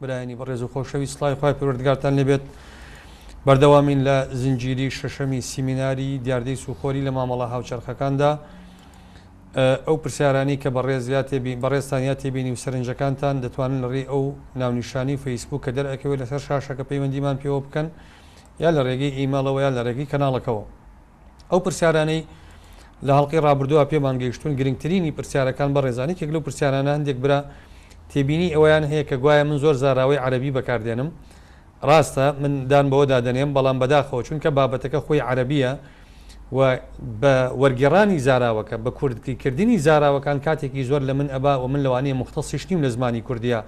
برایانی بەڕێز و خۆشەویست سڵاوی خوای پەروەردگارتان لێ بێت بەردەوامین لە زنجیری شەشەمی سیمیناری دیاردەی سوخۆری لە مامەڵە هاوچەرخەکاندا ئەو پرسیارانی کە بەڕێز یا تێبی بەڕێزتان یا تێبینی و سەرنجەکانتان دەتوانن لە ڕێی ئەو ناونیشانی فەیسبوک کە دەرئەکەوێت لەسەر شاشەکە پەیوەندیمان پێوە بکەن یا لە ڕێگەی ئیمەڵەوە یا لە ڕێگەی کەناڵەکەوە. ئەو پرسیارانەی لە هەڵلقەی ڕابردووە پێمان گەیشتون گرنگترینی پرسیارەکان بە ڕێزانانی کێک لەو پرسیارانە هەندێک برا تێبینی ئەویان هەیە کە گوایە من زۆر زاراوەی عەربی بەکاردێنم ڕاستە من دان بەوە دادەنێم بەڵام بەداخەوە چونکە بابەتەکە خۆی عەربیە و بە وەرگێڕانی زاراوەکە بە کوردی کردنی زاراوەکان کاتێکی زۆر لە من ئەبا و من لەوانەیە مختەسیش نیم لە زمانی کوردیا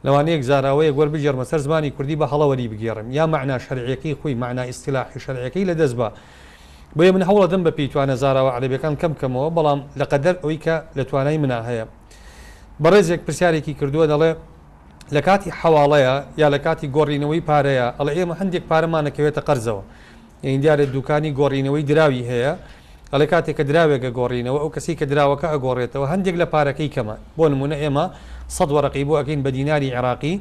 لەوانەیەک زاراوەیەک وەربگێڕمە سەر زمانی کوردی بە هەڵە وەریبگێڕم یا مەعنا شەرعیەکەی خۆی مەعنا ئیستیلاحی شەرعیەکەی لەدەست با بۆیە من هەوڵەدەم بە پێی توانا زاراوە عەرەبیەکان کەم بکەمەوە بەڵام لە قەدەر ئەوەی کە لە توانای منا هەیە بەڕێزێک پرسیارێکی کردووە دەڵێ لەکاتی حەواڵەیە یا لەکاتی گۆڕینەوەی پارەیە ئەڵێ ئێمە هەندێک پارەمانەکەوێتە قەرزەوە یانی دیارە دوکانی گۆڕینەوەی دراوی هەیە ئەڵێ کاتێ کە دراوێک ئەگۆڕینەوە ئەو کەسەی کە دراوەکە ئەگۆڕێتەوە هەندێک لە پارەکەی کەمە بۆ نمونە ئێمە سەد وەرەقی بۆ ئەکەین بە دیناری عێراقی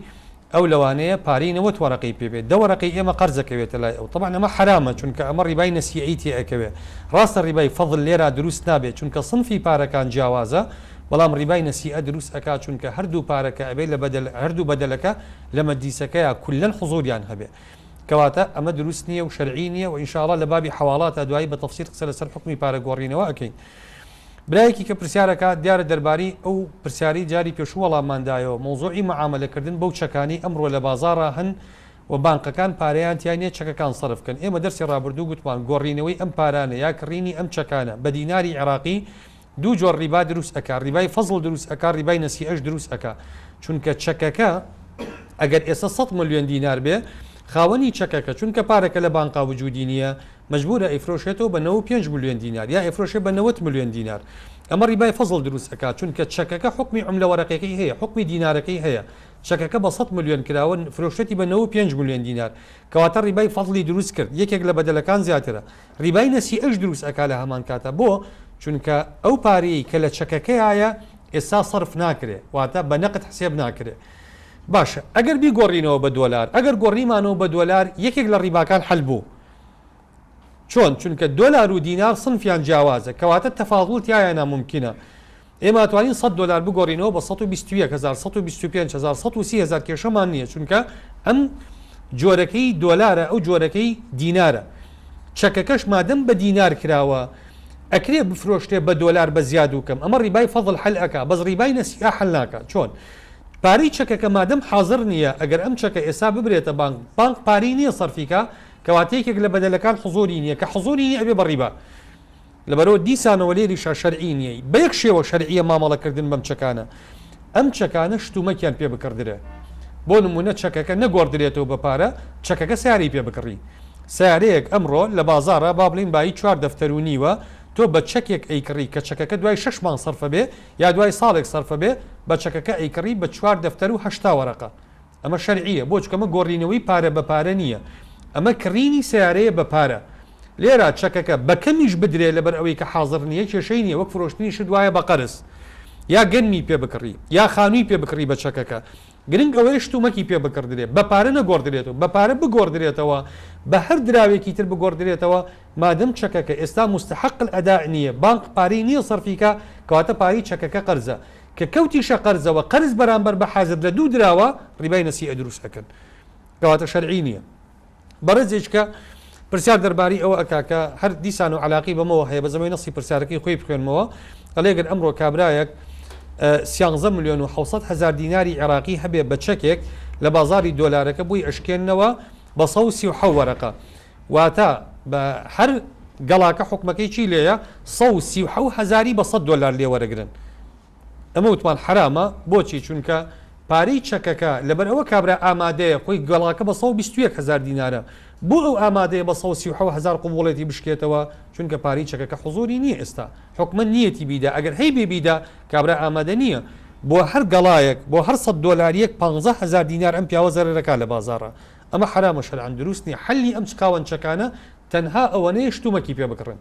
ئەو لەوانەیە پارەی نەوەت وەرەقەی پێ بێت دە وەرەقەی ئێمە قەرز ئەکەوێتە لای ئەو تەبعەن ئەمە حەرامە چونکە ئەمە ڕیبای نەسیئەی تێ ئەکەوێ ڕاستە ڕیبای فەزل لێرا دروست نابێت چونکە صنفی پارەکان جیاوازە بەڵام ڕیبای نەسیئە دروست ئەکا چونکە هەردوو پارەکە ئەبێ لە بەدەل هەردوو بەدەلەکە لە مەجلیسەکەیا کلەن حزوریان هەبێ کەواتە ئەمە دروست نیە و شەرعی نیە وە انشاءاللە لە بابی حەواڵاتا دوایی بە تەفسیل قسە لەسەر حوکمی پارە گۆڕینەوە ئەکەین برایەکی کە پرسیار ئەکات دیارە دەربارەی ئەو پرسیارەی جاری پێشوو وەڵاممان دایەوە مەوزوعی معامەلە کردن بەو چەکانەی ئەمڕۆ لە بازاڕا هەن و بانقەکان پارەیان تیا نیە چەکەکان سەرف کەن ئێمە دەرسی ڕابردوو گوتمان گۆڕینەوەی ئەم پارانە یا کڕینی ئەم چەکانە بە دیناری عێراقی دوو جۆر ڕیبا دروست ئەکا ڕیبای فەزڵ دروست ئەکا ڕیبای نەسیئەش دروست ئەکا چونکە چەکەکە ئەگەر ئێستا سەد ملیۆن دینار بێ خاوەنی چەکەکە چونکە پارەکە لە بانقا وجودی نییە مەجبورە ئەیفرۆشێتەوە بە نەوەد و پێنج ملیۆن دینار یا ئەیفرۆشێ بە نەوەد ملیۆن دینار ئەمە ڕیبای فەزڵ دروست ئەکا چونکە چەکەکە حکمی عملە وەرەقەکەی هەیە حکمی دینارەکەی هەیە چەکەکە بە سەد ملیۆن کراوە فرۆشتێتی بە نەوەد و پێنج ملیۆن دینار کەواتە ڕیبای فەزڵی دروست کرد یەکێک لە بەدەلەکان زیاترە ڕیبای نەسیئەش دروست ئەکا لە هەمان کاتا بۆ؟ چونکە ئەو پارەیەی کە لە چەکەکەیایە ئێستا سەرف ناکرێ واتە بە نەقد حسێب ناکرێ باشە ئەگەر بیگۆڕینەوە بە دۆلار ئەگەر گۆڕیمانەوە بە دۆلار یەکێک لە ڕیباکان حەل بوو چۆن چونکە دۆلار و دینار سنفیان جیاوازە کەواتە تەفاضول تیایا نامومکینە ئێمە ئەتوانین سەد دۆلار بگۆڕینەوە بە سەد و بیست و یەک هەزار، سەد و بیست و پێنج هەزار، سەد و سی هەزار کێشەمان نییە چونکە ئەم جۆرەکەی دۆلارە ئەو جۆرەکەی دینارە چەکەکەش مادەم بە دینار کراوە ئەکرێ بفرۆشرێ بە دۆلار بە زیاد و کەم ئەمە ڕیبای فەزڵ حەل ئەکا بەس ڕیبای نەسیئە حەل ناکا چۆن پارەی چەکەکە مادەم حازر نییە ئەگەر ئەم چەکە ئێستا ببرێتە بانک بانک پارەی نییە سەرفیکە کەواتە یەکێک لە بەدەلەکان حزۆری نییە کە حزۆری نییە ئەبێ بە ڕیبا لەبەرئەوە دیسانەوە لێریشا شەرعی نییە، بەیەک شێوە شەرعییە مامەڵەکردن بەم چەکانە، ئەم چەکانە شتومەکیان پێ بکڕدرێ، بۆ نموونە چەکەکە نەگۆڕدرێتەوە بە پارە، چەکەکە سەیارەی پێ بکڕی، سەیارەیەک ئەمڕۆ لە بازاڕا با بڵێین بایی چوار دەفتەر و نیوە، تۆ بە چەکێک ئەیکڕی کە چەکەکە دوای شەش مانگ سەرفەبێ یا دوای ساڵێک سەرفەبێ، بە چەکەکە ئەیکڕی بە چوار دەفتەر و هەشتا وەرەقە، ئەمە شەرعیە بۆ چکەمە گۆڕینەوەی پارە بە پارە نیە ئەمە کڕینی سەیارەیە بە پارە لێرا چەکەکە بەکەمیش بدرێ لەبەر ئەوەی کە حازڕ نیە کێشەی نیە وەک فرۆشتنی شت وایە بە قەرز یا گەنمی پێ بکڕی یا خانوی پێ بکڕی بە چەکەکە گرنگ ئەوەیە شتومەکی پێ بکڕدرێ بە پارە نەگۆڕدرێتەوە بە پارە بگۆڕدرێتەوە بە هەر دراوێکی تر بگۆڕدرێتەوە مادەم چەکەکە ئێستا مستحق الاداء نیە بانق پارەی نیە سەرفی کا کەواتە پارەی چەکەکە قەرزە کە کەوتیشە قەرزەوە قەرز بەرامبەر بە حازر لە دوو دراوە ڕیبای نەسیئە دروست ئەکەن کەواتە شەرعی نییە بەڕێزێک کە پرسیار دەرباری ئەوە ئەکا کە هەر دیسان و علاقی بەمەوە هەیە بەزەمەی نەسی پرسیارەکەی خۆی بخوێنمەوە ئەلێگەر ئەمڕۆ کابرایەک سیانزە میلیۆن و حوسەت هزار دیناری عێراقی هەبێ بە چەکێک لە بازاری دۆلارەکە بووی ئەشکێنەوە بە سەوسی و حەوەرەقە واتە بە هەر گەڵاکە حوکمەکەی چی لێیە سەد و سی و حەوت هەزاری بە سەد دۆلار لێ وەرەگرن ئەمە وتمان حەرامە بۆچی چونکە پارەی چەکەکە لەبەر ئەوە کابرا ئامادەیە خۆی گەڵاکە بە سەد و بیست و یەک هەزار دینارە بۆ ئەو ئامادەیە بە سەد و سی و حەوت هەزار قبوڵێتی بشکێتەوە چونکە پارەی چەکەکە حزوری نییە ئێستا حوکمە نیەتی بیدا ئەگەر هەی بێ بیدا کابرا ئامادە نییە بۆ هەر گەڵایەک بۆ هەر سەد دۆلاریەک پانزە هەزار دینار ئەم پیاوە زەرەرەکا لە بازاڕا ئەمە حەرامە شەرعەن دروست نیە حەلی ئەم چکاونچەکانە تەنها ئەوەنەیە شتومەکی پێ بکڕن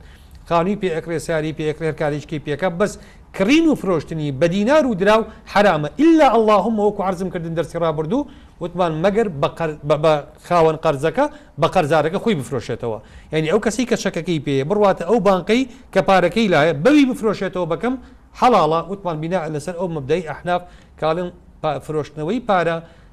خانوی پێ ئەکرێ ساری پێ ئەکرێ هەرکارێکیکەی پێکە بەس کڕین و فرۆشتنی بە دینار و دراو حەرامە الا اللهم وەکو عەرزم کردن دەرسی ڕابردوو وتمان مەگەر بە خاوەن قەرزەکە بە قەرزارەکە خۆی بفرۆشێتەوە یانی ئەو کەسەی کە چەکەکەی پێیە بڕواتە ئەو بانقەی کە پارەکەی لایە بەوی بفرۆشێتەوە بەکەم حەڵاڵە وتمان بیناء لەسەر ئەو مەبدای ئەحناف کاڵن فرۆشتنەوەی پارە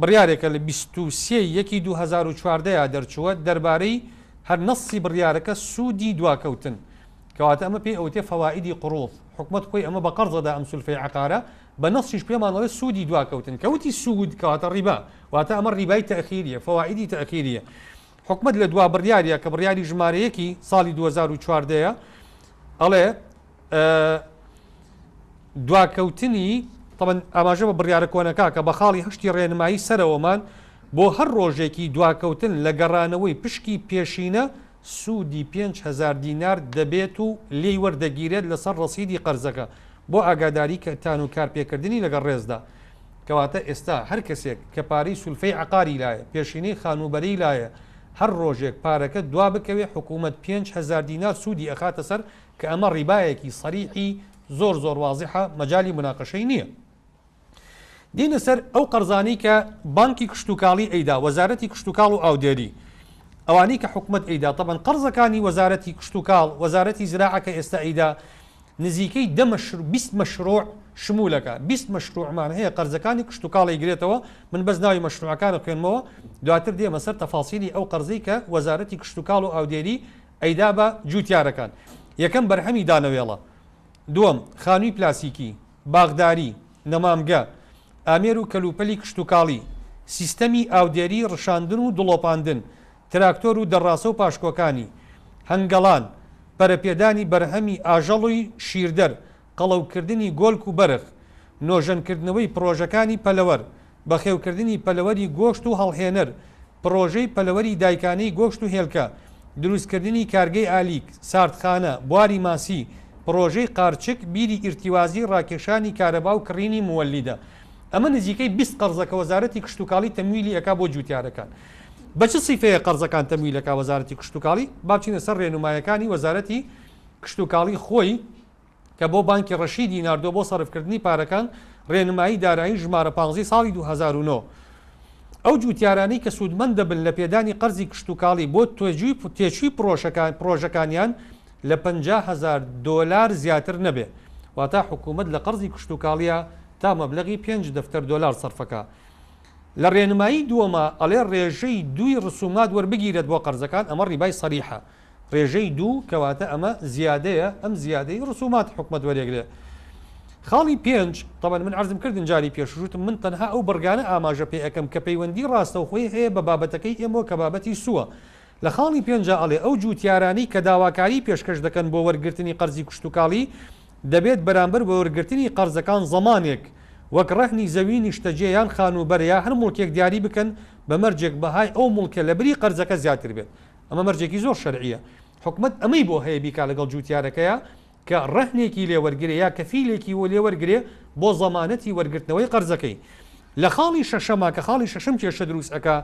بڕیارێکە لە بیست و سێ ی یەکی دوو هەزار و چواردە ەیە دەرچووە دەربارەی هەر نەسسی بڕیارەکە سوودی دواکەوتن کەواتە ئەمە پێی ئەوتێ فەوائیدی قڕووض حکومەت خۆی ئەمە بە قەرز ئەدا ئەم سولفەی عەقارە بە نەسیش پێمان ئەڵێ سوودی دواکەوتن کە وتی سوود کەواتە ڕیبا واتە ئەمە ڕیبای تەئخیریە فەوائیدی تەئخیریە حکومەت لە دوا بڕیاریە کە بڕیاری ژمارە یەکی ساڵی دوو هەزار و چواردە ەیە ئەڵێ دواکەوتنی تەمەن ئاماژە بە بڕیارە کۆنەکە کە بە خاڵی هەشتی ڕێنمایی سەرەوەمان بۆ هەر ڕۆژێکی دواکەوتن لە گەڕانەوەی پشکی پێشینە سوودی پێنج هەزار دینار دەبێت و لێی وەردەگیرێت لەسەر ڕەسیدی قەرزەکە بۆ ئاگاداری کەتان و کارپێکردنی لەگەڵ ڕێزدا کەواتە ئێستا هەر کەسێک کە پارەی سولفەی عەقاری لایە پێشینەی خانووبەرەی لایە هەر ڕۆژێک پارەکە دوا بکەوێت حکوومەت پێنج هەزار دینار سوودی ئەخاتە سەر کە ئەمە ڕیبایەکی سەریحی زۆر زۆر وازحە مەجالی مناقەشەی نیە. دێینە سەر ئەو قەرزانەی کە بانکی کشتوکاڵی ئەیدا، وەزارەتی کشتوکاڵ و ئاودێری، ئەوانەی کە حکومەت ئەیدا، تەبعەن قەرزەکانی وەزارەتی کشتوکاڵ، وەزارەتی زراعە کە ئێستا ئەیدا نزیکەی دە مەشروع، بیست مەشروع شمول ئەکا، بیست مەشروعمان هەیە قەرزەکانی کشتوکاڵ ئەیگرێتەوە، من بەس ناوی مەشروعەکان ئەخوێنمەوە دواتر دێمە سەر تەفاسیلی ئەو قەرزەی کە وەزارەتی کشتوکاڵ و ئاودێری ئەیدا بە جووتیارەکان. یەکەم بەرهەمی دانەوێڵە. دووەم، خانووی پلاسیکی، باخداری، نەمامگە، ئامێر و کەلوپەلی کشتوکاڵی، سیستەمی ئاودێری، ڕشاندن و دڵۆپاندن، تراکتۆر و دەڕاسە و پاشکۆکانی، هەنگەڵان، پەرەپێدانی بەرهەمی ئاژەڵ و شیردەر، قەڵەوکردنی گۆلک و بەرخ، نۆژەنکردنەوەی پڕۆژەکانی پەلەوەر، بەخێوکردنی پەلەوەری گۆشت و هەڵهێنەر، پڕۆژەی پەلەوەری دایکانەی گۆشت و هێلکە، دروستکردنی کارگەی ئالیک، ساردخانە، بواری ماسی، پڕۆژەی قارچک، بیری ئیرتیوازی، ڕاکێشانی کارەبا و کڕینی موەلیدە. ئەمە نزیکەی بیست قەرزە کە وەزارەتی کشتوکاڵی تەمویلی ئەکا بۆ جوتیارەکان. بە چ سیفەیە قەرزەکان تەمویل ئەکا وەزارەتی کشتوکاڵی؟ با بچینە سەر ڕێنومایەکانی وەزارەتی کشتوکاڵی خۆی. کە بۆ بانکی ڕەشیدی ناردووە بۆ سەرفکردنی پارەکان، ڕێنمایی دارایی ژمارە پازدە ی ساڵی دوو هەزار و نۆ. ئەو جووتیارانەی کە سوودمەند دەبن لە پێدانی قەرزی کشتوکاڵی بۆ تێچووی پڕۆژەکانیان لە پەنجا هەزار دۆلار زیاتر نەبێ، واتە حکوومەت لە قەرزی کشتوکاڵییە تا مەبلەغی پێنج دەفتەر دۆلار سەرفەکا. لە ڕێنمایی دووەما ئەڵێ ڕێژەی دووی ڕسوومات وەربگیرێت بۆ قەرزەکان، ئەمە ڕیبای سەریحە. ڕێژەی دوو، کەواتە ئەمە زیادەیە، ئەم زیادەی ڕسوماتی حکومەت وەریەگرێ. خاڵی پێنج، تەبەن من عەرزم کردن جاری پێشووش وتم من تەنها ئەو بڕگانە ئاماژە پێ ئەکەم کە پەیوەندی ڕاستەوخۆی هەیە بە بابەتەکەی ئێمەوە کە بابەتی سووە. لە خاڵی پێنجا ئەڵێ ئەو جووتیارانەی کە داواکاریی پێشکەش دەکەن بۆ وەرگرتنی قەرزی کشتوکاڵی دەبێت بەرامبەر بە وەرگرتنی قەرزەکان زەمانێک وەک ڕەهنی زەوی نیشتەجێ یان خانووبەرە یا هەر موڵکێک دیاری بکەن بە مەرجێک بەهای ئەو موڵکە لە بری قەرزەکە زیاتر بێت ئەمە مەرجێکی زۆر شەرعییە. حکومەت ئەمەی بۆ هەیە بیکا لەگەڵ جووتیارەکەیا کە ڕەهنێکی لێ وەرگرێ یا کەفیلێکی لێ وەرگرێ بۆ زەمانەتی وەرگرتنەوەی قەرزەکەی. لە خاڵی شەشەما کە خاڵی شەشەم کێشە دروست ئەکا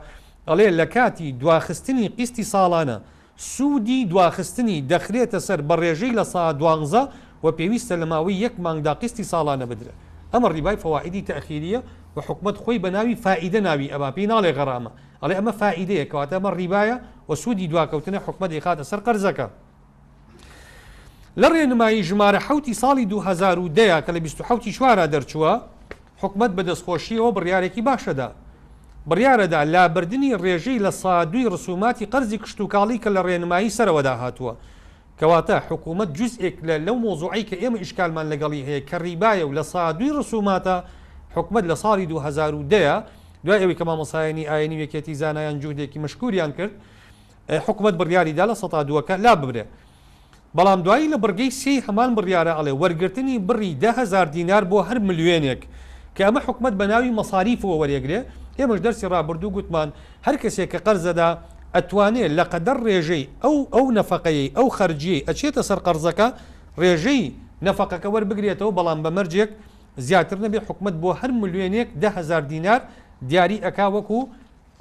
ئەڵێ لە کاتی دواخستنی قیستی ساڵانە سوودی دواخستنی دەخرێتە سەر بە ڕێژەی لە سا دوانزە و پێویستە لە ماوەی یەک مانگدا قیستی ساڵانە بدرێ. ئەمە ڕیبای فەوائیدی تەئخیرییە و حکومەت خۆی بە ناوی فائیدە ناوی ئەبا پێی ناڵێ غەرامە. ئەڵێ ئەمە فائیدەیە کەواتە ئەمە ڕیبایە و سوودی دواکەوتنە حکومە دەیخاتە سەر قەرزەکە لە ڕێنمایی ژمارە حوتی ساڵی 2010 کە لە 20 چوارا دەرچووە حکومت بە دەستخۆشیەوە بڕارێکی باشەدا بڕارەدا لابردنی ڕێژەی لە سادوی ڕسوماتی قەرزی کشتتوکاڵی کە لە ڕێنمایی سەرەوەدا هاتووە کەواتە حکوومەت جوزئێک لە لەو مەوزوعەی کە ئێمە ئیشکالمان لەگەڵی هەیە کە ریبایە و لە سادوی رسووماتە، حکومەت لە ساڵی دوو هەزار و دە دوای ئەوەی کە مامۆستایانی ئاینی و یەکێتی زانایان جوهدێکی مشکووریان کرد، حکوومەت بڕیاری دا لە سەتا دووەکە لا ببرێ. بەڵام دوایی لە بڕگەی سێی هەمان بڕیارە ئەڵێ وەرگرتنی بڕی دە هەزار دینار بۆ هەر ملیۆنێک کە ئەمە حکوومەت بە ناوی مەساریفەوە وەرێگرێ، ئێمەش دەرسی رابردوو گوتمان هەر کەسێک کە قەرز ئەدا ئەتوانێ لە قەدەر ڕێژەی ئەو ئەو نەفەقەیەی ئەو خەرجیەی ئەچێتە سەر قەرزەکە ڕێژەی نەفەقەکە وەربگرێتەوە بەڵام بە مەرجێک زیاتر نەبێ حکومەت بۆ هەر ملوێنێک دە هەزار دینار دیاری ئەکا وەکو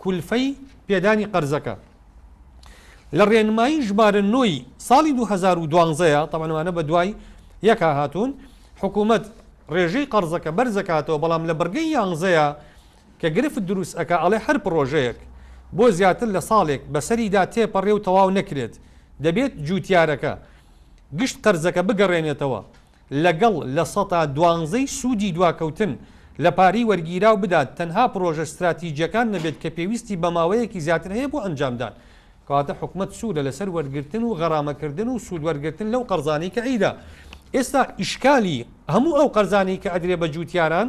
کولفەی پێدانی قەرزەکە لە ڕێنمایی ژمارە نۆ ی ساڵی دوو هەزار و دوانزە یە تەبعەن ئەمانە بە دوای یەکا هاتوون حکومەت ڕێژەی قەرزەکە بەرزەکاتەوە بەڵام لە بڕگەی یانزە یە کە گرفت دروست ئەکا ئەڵێ هەر پڕۆژەیەک بۆ زیاتر لە ساڵێک بەسەریدا تێپەڕێ و تەواو نەکرێت دەبێت جووتیارەکە گشت قەرزەکە بگەڕێنێتەوە لەگەڵ لە سەتا دوانزەی سوودی دواکەوتن لە پارەی وەرگیراو بدات تەنها پڕۆژە ستراتیجیەکان نەبێت کە پێویستی بە ماوەیەکی زیاتر هەیە بۆ ئەنجامدان کەواتە حکومەت سوورە لەسەر وەرگرتن و غەرامەکردن و سوود وەرگرتن لەو قەرزانەی کە ئەیدا ئێستا ئیشکالی هەموو ئەو قەرزانەی کە ئەدرێ بە جووتیاران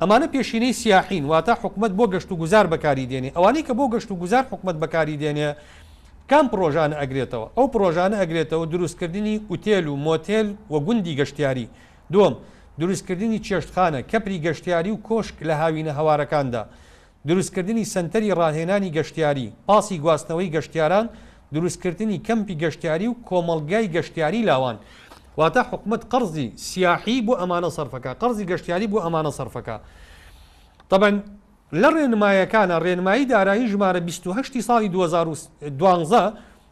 ئەمانە پێشینەی سیاحین واتە حکومەت بۆ گەشت و گوزار بەکاری دێنێ ئەوانەی کە بۆ گەشت و گوزار حکومەت بەکاری دێنێ کام پڕۆژانە ئەگرێتەوە ئەو پڕۆژانە ئەگرێتەوە دروست کردنی ئوتێل و مۆتێل و گوندی گەشتیاری دووەم دروست کردنی چێشتخانە کەپری گەشتیاری و کۆشک لە هاوینە هەوارەکاندا دروستکردنی سەنتەری ڕاهێنانی گەشتیاری، پاسی گواستنەوەی گەشتیاران، دروستکردنی کەمپی گەشتیاری و کۆمەڵگای گەشتیاری لاوان. واتە حکومەت قەرزی سیاحی بۆ ئەمانە سەرفەکا، قەرزی گەشتیاری بۆ ئەمانە سەرفەکا. تەبەن لە ڕێنمایەکانا، ڕێنمایی دارایی ژمارە بیست و هەشت ی ساڵی دوو هەزار و دوازدە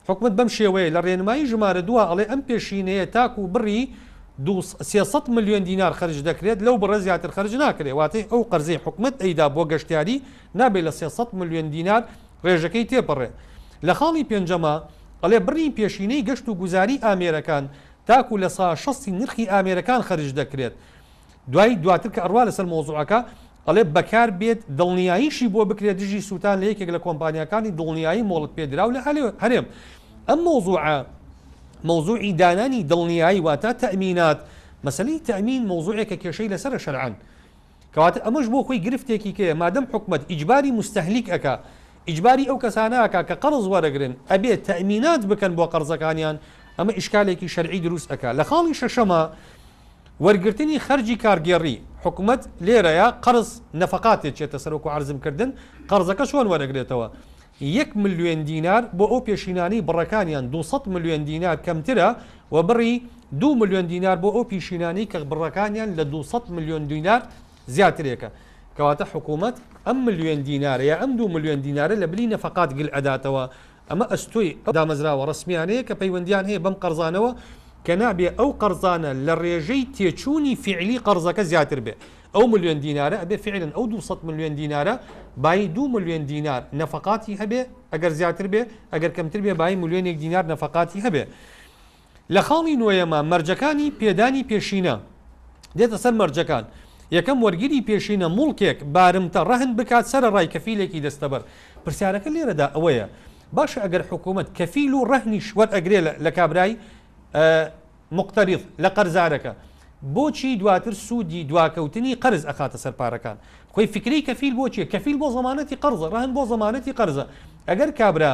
حکومەت بەم شێوەیە لە رێنمایی ژمارە دووە ئەڵێ ئەم پێشینەیە تاکو بڕی دوو سێ سەد ملیۆن دینار خەرج دەکرێت لەو بڕە زیاتر خەرج ناکرێت واتە ئەو قەرزەی حکومەت ئەیدا بۆ گەشتیاری نابێت لە سێ سەد ملیۆن دینار رێژەکەی تێپەڕێت لە خاڵی پێنجەما ئەڵێ بڕی پێشینەی گەشت و گوزاری ئامێرەکان تاکو لە سا شەستی نرخی ئامێرەکان خەرج دەکرێت دوای دواتر کە ئەڕوا لەسەر مەوزوعەکە دەڵێت بەکار بێت دڵنیاییشی بۆ بکرێت دژی سووتان لە یەکێک لە کۆمپانیاکانی دڵنیایی مۆڵەت پێدراو لە هەرێم ئەم مەوزوعە مەوزوعی دانانی دڵنیایی واتە تەئمینات مەسەلەی تەئمین مەوزوعێکە کێشەی لەسەرە شەرعەن کەواتە ئەمەش بۆ خۆی گرفتێکی کەیە مادەم حکومەت ئیجباری مستەهلیک ئەکا ئیجباری ئەو کەسانە ئەکا کە قەرز وەرەگرن ئەبێ تەئمینات بکەن بۆ قەرزەکانیان ئەمە ئیشکالێکی شەرعی دروست ئەکا لە خاڵی شەشەما وەرگرتنی خەرجی کارگێڕی، حکومەت لێرەیا قەرز، نەفەقات، دەچێتە سەر وەکو عەرزم کردن، قەرزەکە چۆن وەرەگرێتەوە؟ یەک ملیۆن دینار بۆ ئەو پێشینانەی بڕەکانیان دوو سەد ملیۆن دینار کەمترە و بڕی دوو ملیۆن دینار بۆ ئەو پیشینانەی کە بڕەکانیان لە دوو سەد ملیۆن دینار زیاترێکە کەواتە حکومەت ئەم ملیۆن دینارە یا ئەم دوو ملیۆن دینارە لە بری نەفەقات گل ئەداتەوە ئەمە ئەستۆی ئەو دامەزراوە ڕەسمیانەیە کە پەیوەندیان هەیە بەم قەرزانەوە کە نابێ ئەو قەرزانە لە ڕێژەی تێچوونی فیعلی قەرزەکە زیاتر بێ ئەو ملیۆن دینارە ئەبێ فیعلەن ئەو دوو سەد ملیۆن دینارە بایی دوو ملیۆن دینار نەفەقاتی هەبێ ئەگەر زیاتر بێ ئەگەر کەمتر بێ بایی ملیۆنێک دینار نەفەقاتی هەبێ لە خاڵی نۆیەما مەرجەکانی پێدانی پێشینە دێتە سەر مەرجەکان، یەکەم، وەرگری پێشینە موڵکێک، بارمتە، ڕەهن بکات سەرەڕای کەفیلێکی دەستەبەر. پرسیارەکە لێرەدا ئەوەیە، باشە ئەگەر حکوومەت کەفیل و ڕەهنیش وەرئەگرێ لە لە کابرای موقتەریض، لە قەرزارەکە، بۆچی دواتر سوودی دواکەوتنی قەرز ئەخاتە سەر پارەکان؟ خۆی فکرەی کەفیل بۆ چییە؟ کەفیل بۆ زەمانەتی قەرزە، ڕەهن بۆ زەمانەتی قەرزە. ئەگەر کابرا.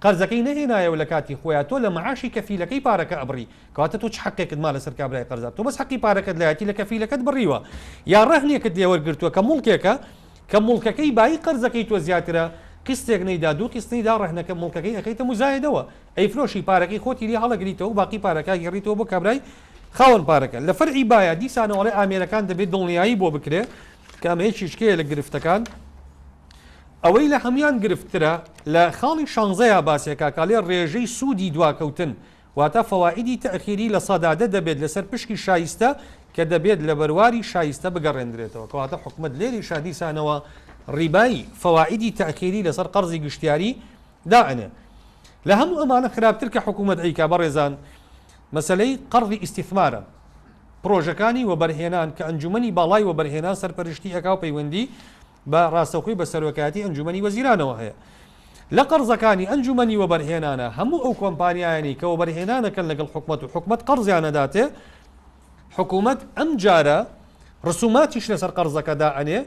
قەرزەکەی نەهێنایەوە لە کاتی خۆیا تۆ لە معاشی کەفیلەکەی پارەکە ئەبڕی کەواتە تۆ چ حەقێکت ما لەسەر کابرای قەرزار تۆ بەس حەقی پارەکەت لایەتی لە کەفیلەکەت بڕیوە یا رەهنێکت لێ وەرگرتووە کە موڵکێکە کە موڵکەکەی بایی قەرزەکەی تۆ زیاترە قیستێک نەیدا دوو قیست نەیدا رەهنەکە موڵکەکەی ئەکەیتە موزایەدەوە ئەیفرۆشی پارەکەی خۆتی لێ هەڵەگریتەوەو باقی پارەکە ئەگێڕیتەوە بۆ کابرای خاوەن پارەکە لە فەرعی بایە دیسانەوە ئەڵێ ئامێرەکان دەبێ دڵنیایی بۆ بکرێ کە ئەمە یەکێکیە لە گرفتەکان. ئەوەی لە هەموان گرفت ترە لە خاڵی شانزەیا باسیەکا کاڵێ ڕێژەی سوودی دواکەوتن واتە فەوائیدی تەئخیری لە سەدا دە دەبێت لەسەر پشکی شایستە کە دەبێت لە بەرواری شایستە بگەڕێندرێتەوە کەواتە حکومەت لێریشا دیسانەوە ڕیبای فەوائیدی تەئخیری لەسەر قەڕزی گشتیاری دائەنێ لە هەموو ئەمانە خراپتر کە حکومەت ئەیکا بەڕێزان مەسەلەی قەڕزی ئیستیثمارە پڕۆژەکانی وەبەرهێنان کە ئەنجومەنی باڵای وەبەرهێنان سەرپەرشتی ئەکا و پەیوەندی بە ڕاستەوخۆی بە سەرۆکایەتی ئەنجوومەنی وەزیرانەوە هەیە. لە قەرزەکانی ئەنجوومەنی وەبەرهێنانە هەموو ئەو کۆمپانیایانەی کە وەبەرهێنان دەکەن لەگەڵ حکومەت و حکومەت قەرزیان ئەداتێ، حکومەت ئەمجارە ڕسوماتیش لەسەر قەرزەکە دائەنێ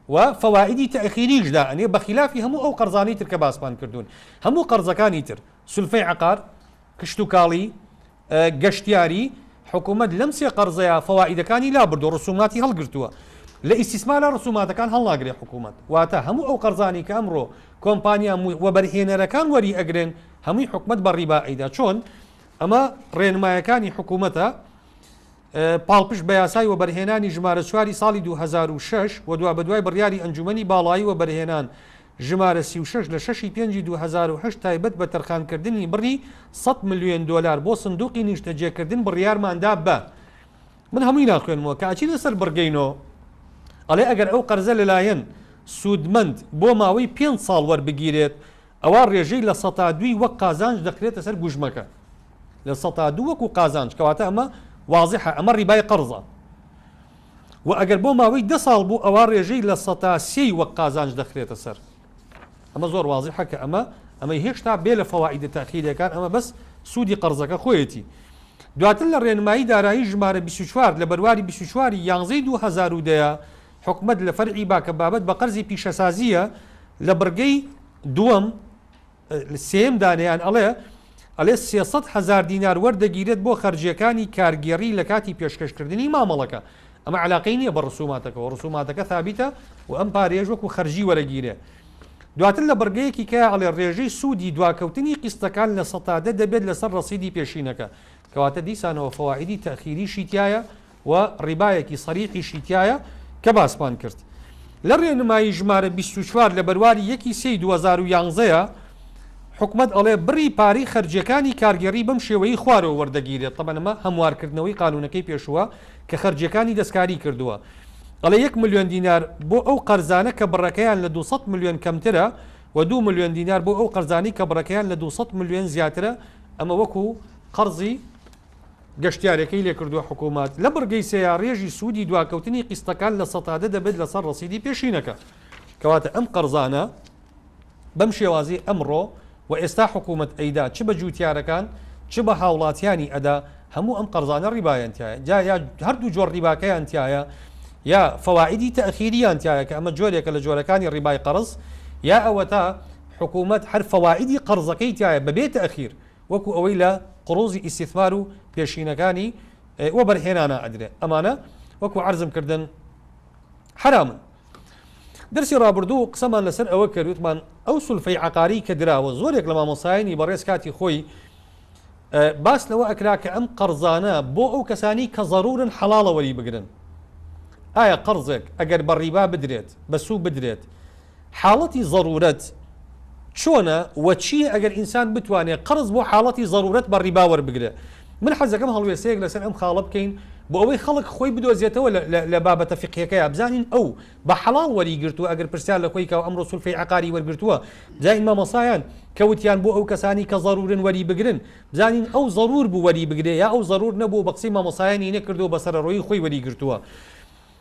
و فەوائیدی تەئخیریش دائەنێ بە خیلافی هەموو ئەو قەرزانەی تر کە باسمان کردوون. هەموو قەرزەکانی تر، سولفەی عەقار، کشتوکاڵی، گەشتیاری، حکومەت لەم سێ قەرزەیا فەوائیدەکانی لابردووە رسوماتی هەڵگرتووە، لە ئیستیسمارا رسوماتەکان هەڵناگرێ حکومەت، واتە هەموو ئەو قەرزانەی کە ئەمڕۆ کۆمپانیا وەبەرهێنەرەکان وەری ئەگرن هەمووی حکومەت بە ریبا ئەیدا چۆن؟ ئەمە رێنمایەکانی حکومەتە. پاڵپشت بە یاسای وەبەرهێنانی ژمارە چواری ساڵی دوو هەزار و شەش و دوابەدوای بڕیاری ئەنجوومەنی باڵایی وەبەرهێنان ژمارە سی و شەش لە شەش ی پێنجی دوو هەزار و هەشت تایبەت بە تەرخانکردنی بڕی سەد ملیۆن دۆلار بۆ سندوقی نیشتەجێکردن بڕیارمان دا بە من هەمووی ناخوێنمەوە کە ئەچینە سەر بڕگەی نۆ ئەڵێ ئەگەر ئەو قەرزە لەلایەن سوودمەند بۆ ماوەی پێنج ساڵ وەربگیرێت ئەوا ڕێژەی لە سەتا دووی وەک قازانج دەخرێتە سەر گوژمەکە لە سەتا دوو وەکو قازانج کەواتە ئەمە وازحە ئەمە ڕیبای قەرزە و ئەگەر بۆ ماوەی دە ساڵ بوو ئەوا ڕێژەی لە سەتا سێی وەک قازانج دەخرێتە سەر ئەمە زۆر وازحە کە ئەمە ئەمەی هێشتا بێ لە فەوائیدە تاخیرەکان ئەمە بەس سوودی قەرزەکە خۆیەتی دواتر لە ڕێنمایی دارایی ژمارە 24 لە بەرواری 24 یانزەی 2010 حکومەت لە فەرعی با کە بابەت بە قەرزی پیشەسازییە لە بڕگەی دووەم سێیەم دانیان ئەڵێ ئەلێ سێ سەد هەزار دینار وەردەگیرێت بۆ خەرجیەکانی کارگێڕی لە کاتی پێشکەشکردنی مامەڵەکە ئەمە علاقەی نییە بە ڕسوماتەکەەوە ڕسوماتەکە ثابتە و ئەم پارێژ وەکو خەرجی وەرەگیرێ دواتر لە بڕگەیەکی کە ئەڵێ ڕێژەی سوودی دواکەوتنی قیستەکان لە سەتادە دەبێت لەسەر ڕسیدی پێشینەکە کەواتە دیسانەوە فەوائدی تەخیریشی تایە و ڕیبایەکی سەریحیشی تیایە کە باسمان کرد لە ڕێنمایی ژمارە بیست و چوار لە بەرواری یەکی سێی دوو هەزار و یانزە ە حکومەت ئەڵێ بڕی پارەی خەرجیەکانی کارگێڕی بەم شێوەیەی خوارەوە وەردەگیرێت تەبەن ئەمە هەموارکردنەوەی قانونەکەی پێشووە کە خەرجیەکانی دەستکاری کردووە ئەڵێ یەک ملیۆن دینار بۆ ئەو قەرزانە کە بڕەکەیان لە دوو سەد ملیۆن کەمترە و دوو ملیۆن دینار بۆ ئەو قەرزانەی کە بڕەکەیان لە دوو سەد ملیۆن زیاترە ئەمە وەکو قەرزی گەشتیارەکەی لێکردووە حکومەت لە بڕگەی سێیا رێژی سوودی دواکەوتنی قیستەکان لە سەتا دە دەبێت لەسەر رەسیدی پێشینەکە کەواتە ئەم قەرزانە بەم شێوازی ئەمڕۆ و ئێستا حکومەت ئەیدا چ بە جووتیارەکان چ بە هاوڵاتیانی ئەدا هەموو ئەم قەرزانە ریبایان تیایە جا یا هەردوو جۆر ریباکەیان تیایە یا فەوائیدی تەئخیریان تیایە کە ئەمە جۆرێکە لە جۆرەکانی ریبای قەرز یا ئەوەتا حکومەت هەر فەوائیدی قەرزەکەی تیایە بەبێ تەئخیر وەکو ئەوەی لە قوڕوزی ئیستیثمار و پێشینەکانی وەبەرهێنانا ئەدرێ ئەمانە وەکو عەرزم کردن حەرامن. دەرسی ڕابردوو قسەمان لەسەر ئەوە کرد وتمان ئەو سولفەی عەقاری کە دراوە زۆرێک لە مامۆستایانی بەڕێز کاتی خۆی باس لەوە ئەکرا کە ئەم قەڕزانە بۆ ئەو کەسانی کە زەڕوورن حەڵاڵە وەری بگرن ئایا قەڕزێک ئەگەر بە ڕیبا بدرێت بە سوو بدرێت حاڵەتی زەروورەت چۆنە و چییە ئەگەر ئینسان بتوانێت قەرز بۆ حاڵەتی زەروورەت بە ڕیبا وەربگرێت؟ من حەزدەکەم هەڵوێستەیەک لەسەر ئەم خاڵە بکەین بۆ ئەوەی خەڵک خۆی بدۆزێتەوە لە بابەتە فیقهیەکەیا بزانین ئەو بە حەڵاڵ وەریگرتووە ئەگەر پرسیار لە کۆیکەوە ئەمڕۆ سولفەی عەقاری وەرگرتووە بزانین مامۆستایان کە وتیان بۆ ئەو کەسانەی کە زەروورن وەریبگرن بزانین ئەو زەروور بوو وەریبگرێ یا ئەو زەروور نەبوو و بە قسەی مامۆستایانی نەکردووە بە سەرەڕۆیی خۆی وەریگرتووە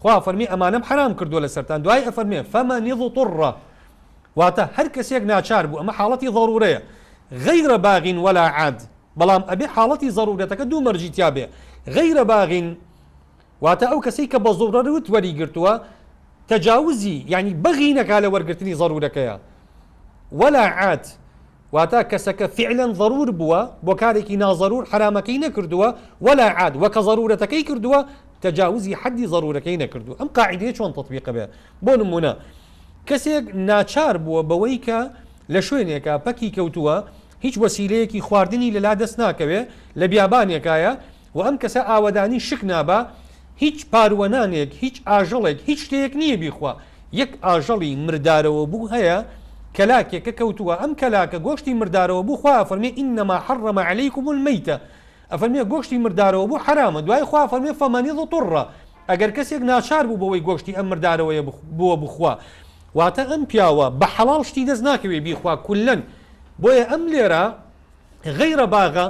خوا ئەفەرمێ ئەمانەم حەرام کردووە لەسەرتان دوای ئەفەرمێ فمن اضطر واتە هەر کەسێک ناچار بوو ئەمە حاڵەتی ضرورەیە غیر باغ ولا عاد بەڵام ئەبێ حاڵەتی ضرورەتەکە دوو مەرجی تیابێ غیر باغ واتە ئەو کەسەی کە بە ضرورت وەری گرتووە تەجاوزی یعنی بەغی نەکا لە وەرگرتنی ضرورەکەیە ولا عاد واتا کەسەکە فیعلەن ضرور بووە بۆ کارێکی ناضرور حەرامەکەی نەکردووە ولا عاد وە کە ضرورەتەکەی کردووە تجاوزی حدی ضرورەکەی نەکردووە ئەم قاعیدەیە چۆن تطبیق بێ بۆ نمونە کەسێک ناچار بووە بەوەی کە لە شوێنێکە پەکی کەوتووە هیچ وەسیلەیەکی خواردنی لەلا دەست ناکەوێ لە بیابانێکایە وە ئەم کەسە ئاوەدانی شک نابا هیچ پاروەنانێک هیچ ئاژەڵێک هیچ شتێیەک نییە بیخوا یەک ئاژەڵی مردارەوە بوو هەیە کەلاکێکە کەوتووە ئەم کەلاکە گۆشتی مردارەوە بوو خوا ئەفەرمێ انما حرم علیکم المیتە ئەفەرمێ گۆشتی مردارەوە بوو حەرامە دوای خوا ئەفەرمێ فمن اضطر ئەگەر کەسێک ناچار بوو بەوەی گۆشتی ئەم مردارەوەیە بووە بخوا واتە ئەم پیاوە بە حەڵاڵ شتی دەست ناکەوێ بیخوا کولەن بۆیە ئەم لێرە غیرە باغە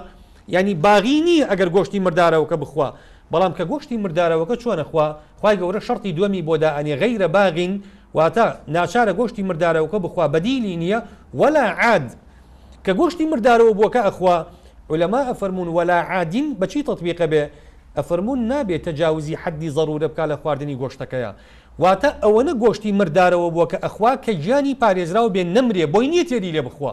یانی باغی نیە ئەگەر گۆشتی مردارەوەکە بخوا بەڵام کە گۆشتی مردارەوەکە چۆنە خوا خوای گەورە شەڕتی دووەمی بۆ دائەنێ غیرە باغین واتە ناچارە گۆشتی مردارەوەکە بخوا بەدیلی نیە وەلا عاد کە گۆشتی مردارەوە بووەکە ئەخوا علەما ئەفەرمونون وەلا عادین بەچی تطبیقە بێ ئەفەرمونون نابێت تەجاوزی حەدی ضرورە بکە لە خواردنی گۆشتەکەیە واتە ئەوەنە گۆشتی مردارەوە بووە کە ئەخوا کە گیانی پارێزراو بێ نەمرێ بۆی نیە تێری لێ بخوا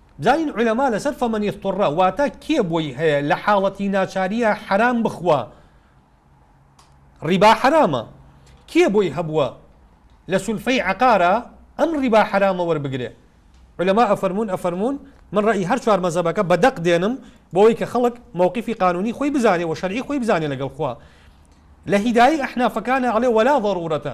جاین عولەما لەسەر فمن اضطر واتا کێ بۆی هەیە لە حاڵەتی ناچاریە حەرام بخوا ڕیبا حەرامە کێ بۆی هەبووە لە سولفەی عقارە ئەم ڕیبا حەرامە وەربگرێ علماء ئەفەرمونون ئەفەرمونون من ڕێی هەر چوار مەزەبەکە بە دەق دێنم بۆەوەی کە خەڵک مووقفی قانونی خۆی بزانێ و شەرعی خۆی بزانێ لەگەڵ خوا لە هیدایی ئەحنافەکانە ئەڵێ وەلا ضرورەتە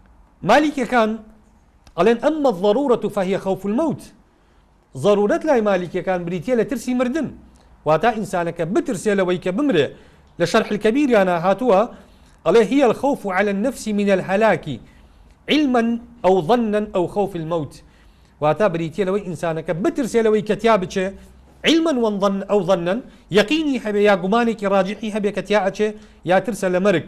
مالیکیەکان ئەڵێن، اما الضرورە فهی خوف الموت، زەرورەت لای مالیکیەکان بریتیە لە ترسی مردن، واتە ئینسانەکە بترسێ لەوەی کە بمرێ، لە شەرح الکبیریانا هاتووە، ئەڵێ، هی الخوف علی النفس من الهلاک علما او ظنا او خوف الموت، واتە بریتیە لەوەی ئینسانەکە بترسێ لەوەی کە تیا بچێ، علما او ظنا، یەقینی هەبێ یا گومانێکی ڕاجحی هەبێ کە تیا ئەچێ، یا ترسە لە مەرگ.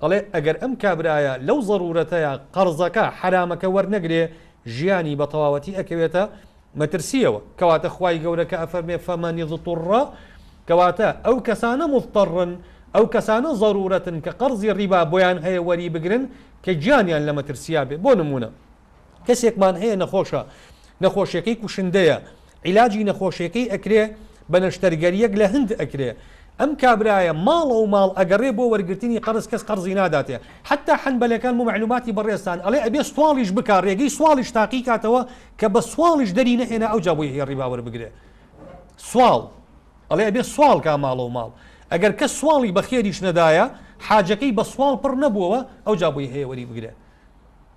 دەڵێ ئەگەر ئەم کابرایە لەو زەرورەتەیا قەرزەکە حەرامەکە وەرنەگرێ ژیانی بە تەواوەتی ئەکەوێتە مەترسیەوە کەواتە خوای گەورە کە ئەفەرمێ فمن اضطر کەواتە ئەو کەسانە مضطرن ئەو کەسانە زەرورەتن کە قەرزی ڕیبا بۆیان هەیە وەری بگرن کە گیانیان لە مەترسیا بێ بۆ نمونە کەسێکمان هەیە نەخۆشە نەخۆشیەکەی کوشندەیە عیلاجی نەخۆشیەکەی ئەکرێ بە نەشتەرگەریەک لە هند ئەکرێ ئەم کابرایە ماڵەو ماڵ ئەگەڕێ بۆ وەرگرتنی قەرز کەس قەرزی ناداتێ حەتا حەنبەلەکان بۆ مەعلوماتی بەڕێزتان ئەڵێ ئەبێ سواڵیش بکا ڕێگەی سواڵیش تاقی کاتەوە کە بە سواڵیش دەری نەهێنا ئەوجا بۆی هەیە ڕیبا وەربگرێ سواڵ ئەڵێ ئەبێ سواڵ کا ماڵەو ماڵ ئەگەر کە سواڵی بە خێریش نەدایە حاجەکەی بە سواڵ پڕ نەبووەوە ئەوجا بۆی هەیە وەری بگرێ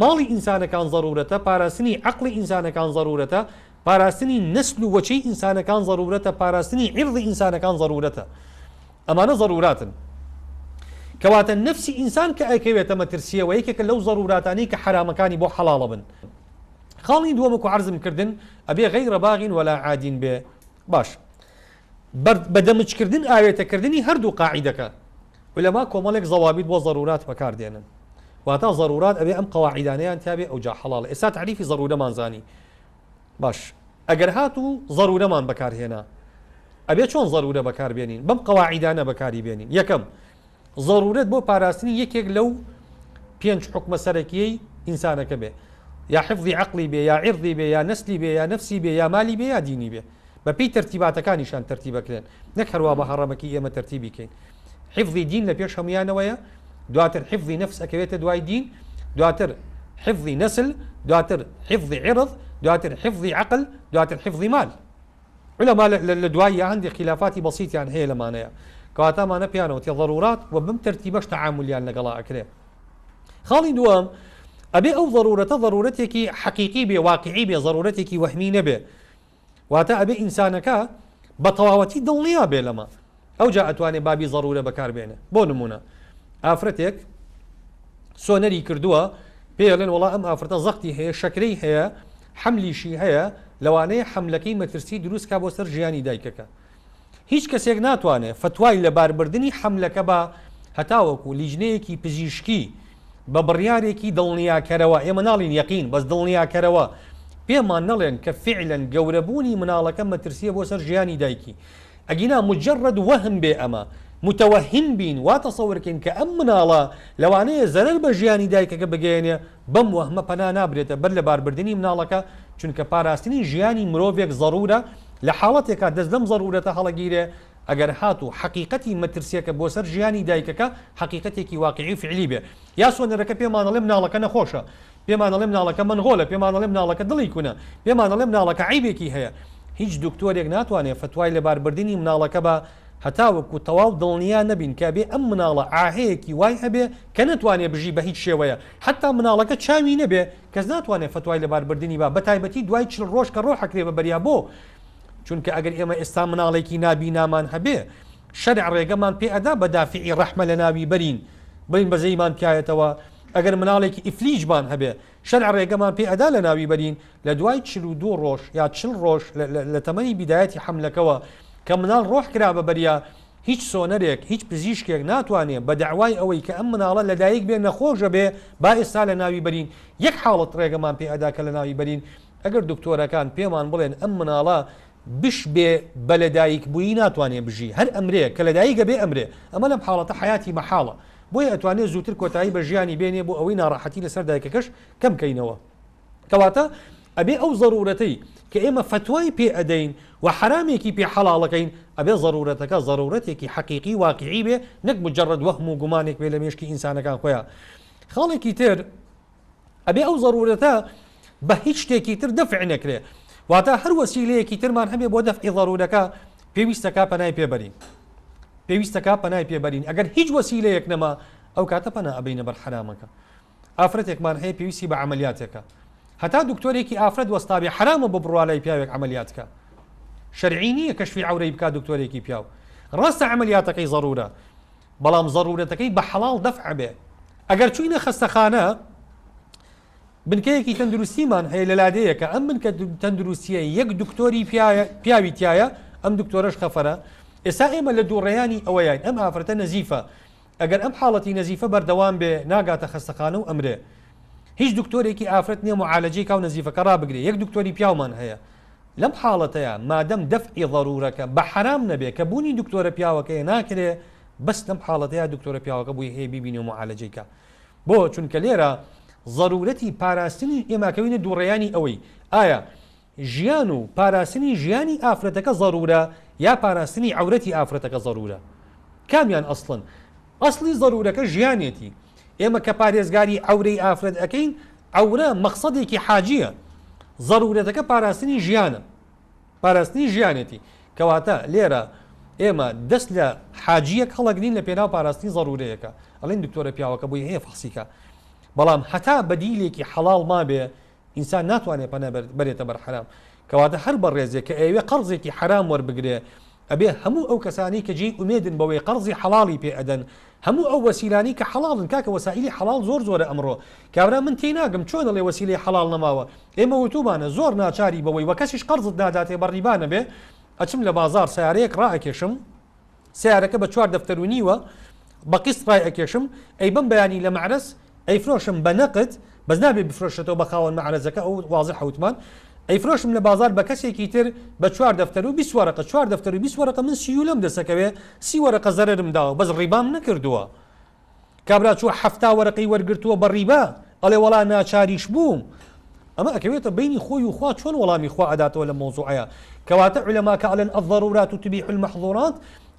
ماڵی ئینسانەکان زەرورەتە، پاراستنی عەقڵی ئینسانەکان زەرورەتە، پاراستنی نەسل و وەچەی ئینسانەکان زەرورەتە، پاراستنی عیڕدی ئینسانەکان زەرورەتە. ئەمانە زەروراتن. کەواتە نەفسی ئینسان کە ئەکەوێتە مەترسییەوە یەکێکە لەو زەروراتانەی کە حەرامەکانی بۆ حەڵاڵەبن. خاڵی دووەم وەکو عەرزم کردن ئەبێ غەیرە باغین وەلا عادین بێ. باشە. بە دەمجکردن ئاوێتەکردنی هەردوو قاعیدەکە. عولەما کۆمەڵێک زەوابیت بۆ زەروورات بەکار دێنن. واتە زەروورات ئەبێ ئەم قەواعیدانەیان تیا بێ ئەوجا حەڵاڵە. ئێستا تەعریفی زەروورەمان زانی. باش ئەگەر هاتوو زەروورەمان بەکار هێنا ئەبێ چۆن زەروورە بەکار بێنین بەم قەواعیدانە بەکاری بێنین یەکەم زەروورەت بۆ پاراستنی یەکێک لەو پێنج حوکمە سەرەکییەی ئینسانەکە بێ، یا حفزی عەقڵی بێ، یا عیڕدی بێ، یا نەسلی بێ، یا نەفسی بێ، یا مالی بێ، یا دینی بێ. بە پێی تەرتیباتەکانیشان تەرتیب ئەکرێن، نەک هەروا بە هەڕەمەکی ئێمە تەرتیبی کەین. حفزی دین لە پێش هەموویانەوەیە، دواتر حفزی نەفس ئەکەوێتە دوای دین، دواتر حفزی نەسل، دواتر حفزی عیڕد، دواتر حفزی عەقل، دواتر حفزی مال. عولەما لە دواییە هەندێ خیلافاتی بەسیتیان هەیە لەمانەیە کەواتە ئەمانە پێیان ئەوتێ ضرورات و بەم تەرتیبەش تەعامولیان لەگەڵا ئەکرێ خاڵی دووەم ئەبێ ئەو ضرورەتە ضرورەتێکی حەقیقی بێ واقعی بێ ضرورەتێکی وەهمی نەبێ واتە ئەبێ ئینسانەکە بە تەواوەتی دڵنیا بێ لەمە ئەوجا ئەتوانێ بابی زەرورە بەکار بێنێ بۆ نمونە ئافرەتێک سۆنەری کردووە پێی ئەلێن وەڵا ئەم ئافرەتە زەقتی هەیە شەکرەی هەیە حەملیشی هەیە لەوانەیە حەملەکەی مەترسی دروست کا بۆ سەر ژیانی دایکەکە هیچ کەسێک ناتوانێ فتوای لەباربردنی حەملەکە بە هەتاوەکو لیجنەیەکی پزیشکی بە بڕیارێکی دڵنیاکەرەوە ئێمە ناڵین یەقین بەس دڵنیاکەرەوە پێمان نەڵێن کە فعلەن گەورەبوونی مناڵەکە مەترسیە بۆ سەر ژیانی دایکی ئەگینا موجەڕەد وەهم بێ ئەمە موتەوەهیم بین وا تەسەور کەین کە ئەم مناڵە لەوانەیە زەرەر بە ژیانی دایکەکە بگەیەنێ بەم وەهمە پەنا نابرێتە بەر لەباربردنی مناڵەکە چونکە پاراستنی ژیانی مرۆڤێک زەرورە لە حاڵەتێکا دەست لەم زەرورەتە هەڵەگیرێ ئەگەر هاتوو حەقیقەتی مەترسیەکە بۆ سەر ژیانی دایکەکە حەقیقەتێکی واقعی و فعلی بێ یاسۆنەرەکە پێمانەڵێ مناڵەکە نەخۆشە پێمان ئەڵێ مناڵەکە مەنغۆلە، پێمان ئەڵێ مناڵەکە دڵی کونە، پێمان ئەڵێ مناڵەکە عەیبێکی هەیە. هیچ دکتۆرێک ناتوانێ فەتوای لەباربردنی مناڵەکە با هەتاوەکو تەواو دڵنیا نەبین کە ئەبێ ئەم مناڵە عاهەیەکی وای هەبێ کە نەتوانێ بژی بە هیچ شێوەیە حەتا مناڵەکە چاوی نەبێ کەس ناتوانێ فەتوای لەباربردنی با بەتایبەتی دوای چل ڕۆژ کە ڕۆح ئەکرێ بە بەریا بۆ چونکە ئەگەر ئێمە ئێستا مناڵێکی نابینامان هەبێ شەرع ڕێگەمان پێ ئەدا بە دافعی ڕەحمە لەناوی بەرین بڵێین بەزەیمان تیایەتەوە ئەگەر مناڵێکی ئیفلیجمان هەبێ، شەرع رێگەمان پێ ئەدا لەناوی بەرین، لە دوای چل و دوو رۆژ یا چل رۆژ لە تەمەنی بیدایەتی حەملەکەوە کە مناڵ رۆح کرا بە بەریا، هیچ سۆنەرێک، هیچ پزیشکێک ناتوانێ بە دەعوای ئەوەی کە ئەم مناڵە لە دایک بێ نەخۆش بێ با ئێستا لە ناوی بەرین، یەک حاڵەت رێگەمان پێ ئەدا کە لەناوی بەرین ئەگەر دکتۆرەکان پێمان بڵێن ئەم مناڵە بش بێ بە لە دایک بوویی ناتوانێ بژی هەر ئەمرێ کە لە دایک ئەبێ ئەمرێ ئەمە لەم حاڵەتە حەیاتی مەحاڵە بۆیە ئەتوانێ زووتر کۆتایی بە ژیانی بێنێ بۆ ئەوەی ناڕەحەتی لە سەر دایکەکەش کەم کەینەوە کەواتە ئەبێ ئەو زەرورەتەی کە ئێمە فەتوای پێ ئەدەین و حەرامێکی پێ حەڵاڵەکەین ئەبێ زەرورەتەکە زەرورەتێکی حەقیقی واقعی بێ نەک مجەڕەد وەهم و گومانێک بێ لە مێشکی ئینسانەکان خۆیان خاڵێکی تر ئەبێ ئەو ضرورەتە بە هیچ شتێکی تر دەفع نەکرێ واتە هەر وەسیلەیەکی ترمان هەبێ بۆ دەفعی ضرورەکە پێویستەکە پەنای پێبەرین پێویستەکە پەنای پێبەرین ئەگەر هیچ وەسیلەیەک نەما ئەو کاتە پەنا ئەبینە بەر حرامەکە ئافرەتێکمان هەیە پێویستی بە عملیاتێکە هەتا دکتۆرێکی ئافرەت وەستاوی حرامە بە بڕوالای پیاوێک عملیاتکە شەرعی نییە کەشفی عورەی بک دکتۆرێکی پیاو ڕاستە عملیاتەکەی ضرورە بەڵام زەروورەتەکەی بە حەڵاڵ دەفع بێ. ئەگەر چووینە خەستەخانە، بنکەیەکی تەندروستیمان هەیە لە لادێیەکە، ئەم بنکە تەندروستییە یەک دکتۆری پیاوی تیایە، ئەم دکتۆرەش خەفەرە، ئێستا ئێمە لە دووڕێیانی ئەوەیاین ئەم ئافرەتە نەزیفە، ئەگەر ئەم حاڵەتی نەزیفە بەردەوام بێ، ناگاتە خەستەخانە و ئەمرێ. هیچ دکتۆرێکی ئافرەت نییە موعالەجەی کاو نەزیفەکە ڕابگرێ، یەک دکتۆری پیاومان هەیە. لەم حاڵەتەیا مادەم دەفعی ضرورەکە بە حەرام نەبێ کە بونی دکتۆرە پیاوەکەیە ناکرێ بەس لەم حاڵەتەیا دکتۆرە پیاوەکە بوی هەیە بیبینێ و معالەجەی کا بۆ چونکە لێرە ضرورەتی پاراستنی ئێمە ئەکەوینە دوڕێیانی ئەوەی ئایا ژیان و پاراستنی ژیانی ئافرەتەکە ضرورە یا پاراستنی عەورەتی ئافرەتەکە ضرورە کامیان ئەسڵن ئەسڵی ضرورەکە ژیانێتی ئێمە کە پارێزگاری عەورەی ئافرەت ئەکەین، عەورە مەقسەدێکی حاجییە، زەروورەتەکە پاراستنی ژیانە، پاراستنی ژیانێتی، کەواتە لێرە ئێمە دەست لە حاجییەک هەڵەگرین لە پێناو پاراستنی زەروورەیەکە، ئەڵێن دکتۆرە پیاوەکە بۆی هەیە فەحسیکا، بەڵام هەتا بەدیلێکی حەڵاڵ مابێ ئینسان ناتوانێ پەنا بەرێتە بەر حەرام، کەواتە هەر بەڕێزێک کە ئەیەوێ قەرزێکی حەرام وەربگرێ، ئەبێ هەموو ئەو کەسانەی کە جێی ئومێدن بەوەی قەرزی حەڵاڵی پێ ئەدەن، هەموو ئەو وەسیلانەی کە حەڵاڵن، کاکە وەسائیلی حەڵاڵ زۆر زۆرە ئەمڕۆ، کابرا من تێی ناگەم چۆن دەڵێ وەسیلەی حەڵاڵ نەماوە، ئێمە وتوومانە زۆر ناچاری بەوەی وە کەسیش قەرزت ناداتێ بە ڕیبا نەبێ، ئەچم لە بازاڕ سەیارەیەک ڕائەکێشم، سەیارەکە بە چوار دەفتەر و نیوە بە قیست ڕای ئەکێشم ئەی بەم بەیانی لە مەعرەز ئەیفرۆشم بە نەقد بەس نابێ بفرۆشرێتەوە بە خاوەن مەعرەزەکە ئەوە وازحە وتمان ئەیفرۆشم لە بازار بە کەسێکی تر بە چوار دەفتەر و بیست وەرەقە چوار دەفتەر و بیست وەرەقە من سیولەم دەسەکەوێ سی وەرەقە زەرەرم داوە بەس ڕیبام نەکردووە کابرا چووە حەفتا وەرەقەی وەرگرتووە بە ڕیبا ئەڵێ وەڵا ناچاریش بووم ئەمە ئەکەوێتە بەینی خۆی و خوا چۆن وەڵامی خوا ئەداتەوە لە مەوزوعەیە کەواتە علەماکە ئەڵێن الضرورات تبیح المحظورات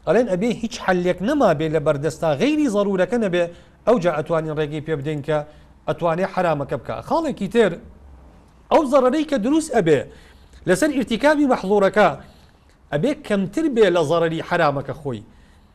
ئەڵێن ئەبێ هیچ حلێک نەما بێ لە بەردەستا غیری ضرورەکە نەبێ ئەو جا ئەتوانین ڕێگەی پێ بدەین کە ئەتوانێ حرامەکە بکە خاڵێکی تر ئەو زەڕەرەی کە دروست ئەبێ لەسەر ئرتیکابی مەحظورەکە ئەبێ کەمتر بێ لە زەڕەری حرامەکە خۆی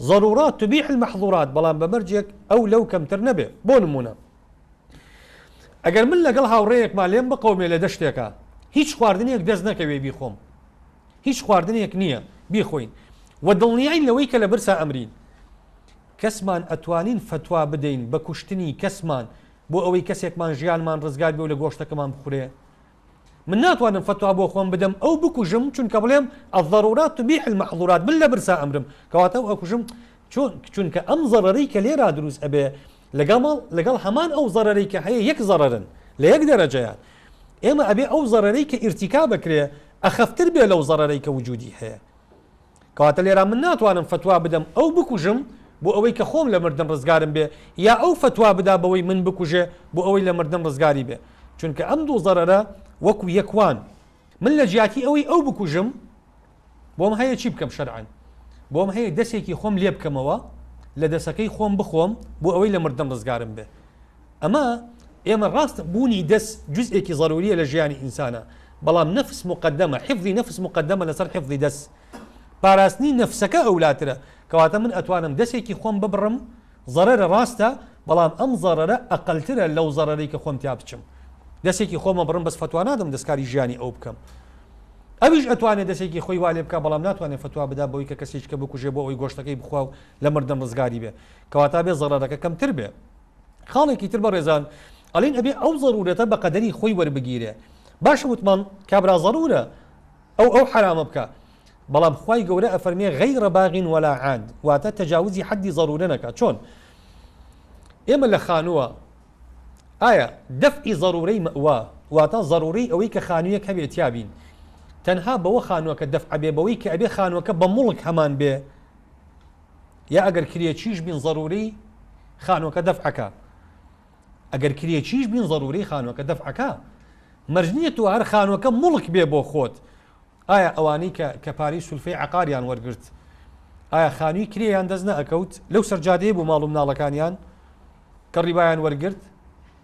ضرورات تبیح المحظورات بەڵام بە مەرجێک ئەو لەو کەمتر نەبێ بۆ نموونە ئەگەر من لەگەڵ هاوڕێیەکما لێم بقەومێ لە دەشتێکا هیچ خواردنێک دەست نەکەوێ بیخۆم هیچ خواردنێک نییە بیخۆین و دڵنیاین لەوەی کە لە برسا ئەمرین کەسمان ئەتوانین فتوا بدەین بە کوشتنی کەسمان بۆ ئەوەی کەسێکمان ژیانمان ڕزگار بێ و لە گۆشتەکەمان بخورێ من ناتوانم فتوا بۆ خۆم بدەم ئەو بکوژم چونکە بڵێم الضرورات تبیح المحظورات من لە برسا ئەمرم کەواتە ئەو ئەکوژم چۆن چونکە ئەم زەڕەرەی کە لێرا دروست ئەبێ لەگەڵ لەگەڵ هەمان ئەو زەڕەرەی کە هەیە یەک زەڕەرن لە یەک دەرەجەیان ئێمە ئەبێ ئەو زەڕەرەی کە ئیرتیکا بکرێ ئەخەفتر بێ لەو زەڕەرەی کە وجودی هەیە کەواتە لێرا من ناتوانم فەتوا بدەم ئەو بکوژم بۆ ئەوەی کە خۆم لە مردن ڕزگارم بێ یا ئەو فەتوا بدا بەوەی من بکوژێ بۆ ئەوەی لە مردن ڕزگاری بێ چونکە ئەم دوو زەرەرە وەکو یەک وان من لە جیاتی ئەوەی ئەو بکوژم بۆم هەیە چی بکەم شەرعەن بۆم هەیە دەسێکی خۆم لێ بکەمەوە لە دەسەکەی خۆم بخۆم بۆ ئەوەی لە مردن ڕزگارم بێ ئەمە ئێمە ڕاستە بوونی دەست جزئێکی ضروریە لە ژیانی ئینسانە بەڵام نەفس مقدمە حفظی نەفس مقدمە لەسەر حفظی دەست پاراستنی نەفسەکە ئەولاترە کەواتە من ئەتوانم دەستێکی خۆم ببڕم ضررە ڕاستە بەڵام ئەم ضررە ئەقلترە لەو ضرری کە خۆم تیا بچم دەستێکی خۆمە بڕم بەس فتووا نادەم دەستکاری ژیانی ئەو بکەم ئەویش ئەتوانێت دەستێکی خۆی والێ بکە بەڵام ناتوانێت فتووا بدا بۆی کە کەسێککە بکوژێ بۆ ئەوی گۆشتەکەی بخوا و لە مردن ڕزگاری بێ کەواتا بێ زەڕەکە کەمتر بێ خاڵێکی تر بەڕێزان ئەڵین ئەبێ ئەو ضرورەتە بە قەدەری خۆی وەربگیرێ باشە وتمان کابرا ضرورە ئەو ئەو حرامە بکە بەڵام خی گەورە ئەفەرمێ غیرە باغین وەلا عاد واتە تەجاوزی حەدی ضرورە نەکە چۆن ئێمە لە خانووە ئایا دەفعی ضرورەی مەوا واتە ضرورەی ئەوەی کە خانوویەک هەبێت تیابین تەنها بەوە خانووەکە دەفعبێ بەوەی کە ئەبێ خانووەکە بە مڵک هەمان بێ یا ئەگەر کرێچیش بین ضروری خانوەکە دەفعەکە ئەگەر کرێچیش بین ضروری خانوەکە دەفعەکە مەرج نییە تۆ هەر خانوەکە مڵک بێ بۆ خۆت ئایا ئەوانی کە کە پارەی سولفەی عقاریان وەرگرت ئایا خانووی کرێیان دەست نەئەکەوت لەو سەرجادەیە بۆ ماڵوم ناڵەکانیان کە ڕیبایان وەرگرت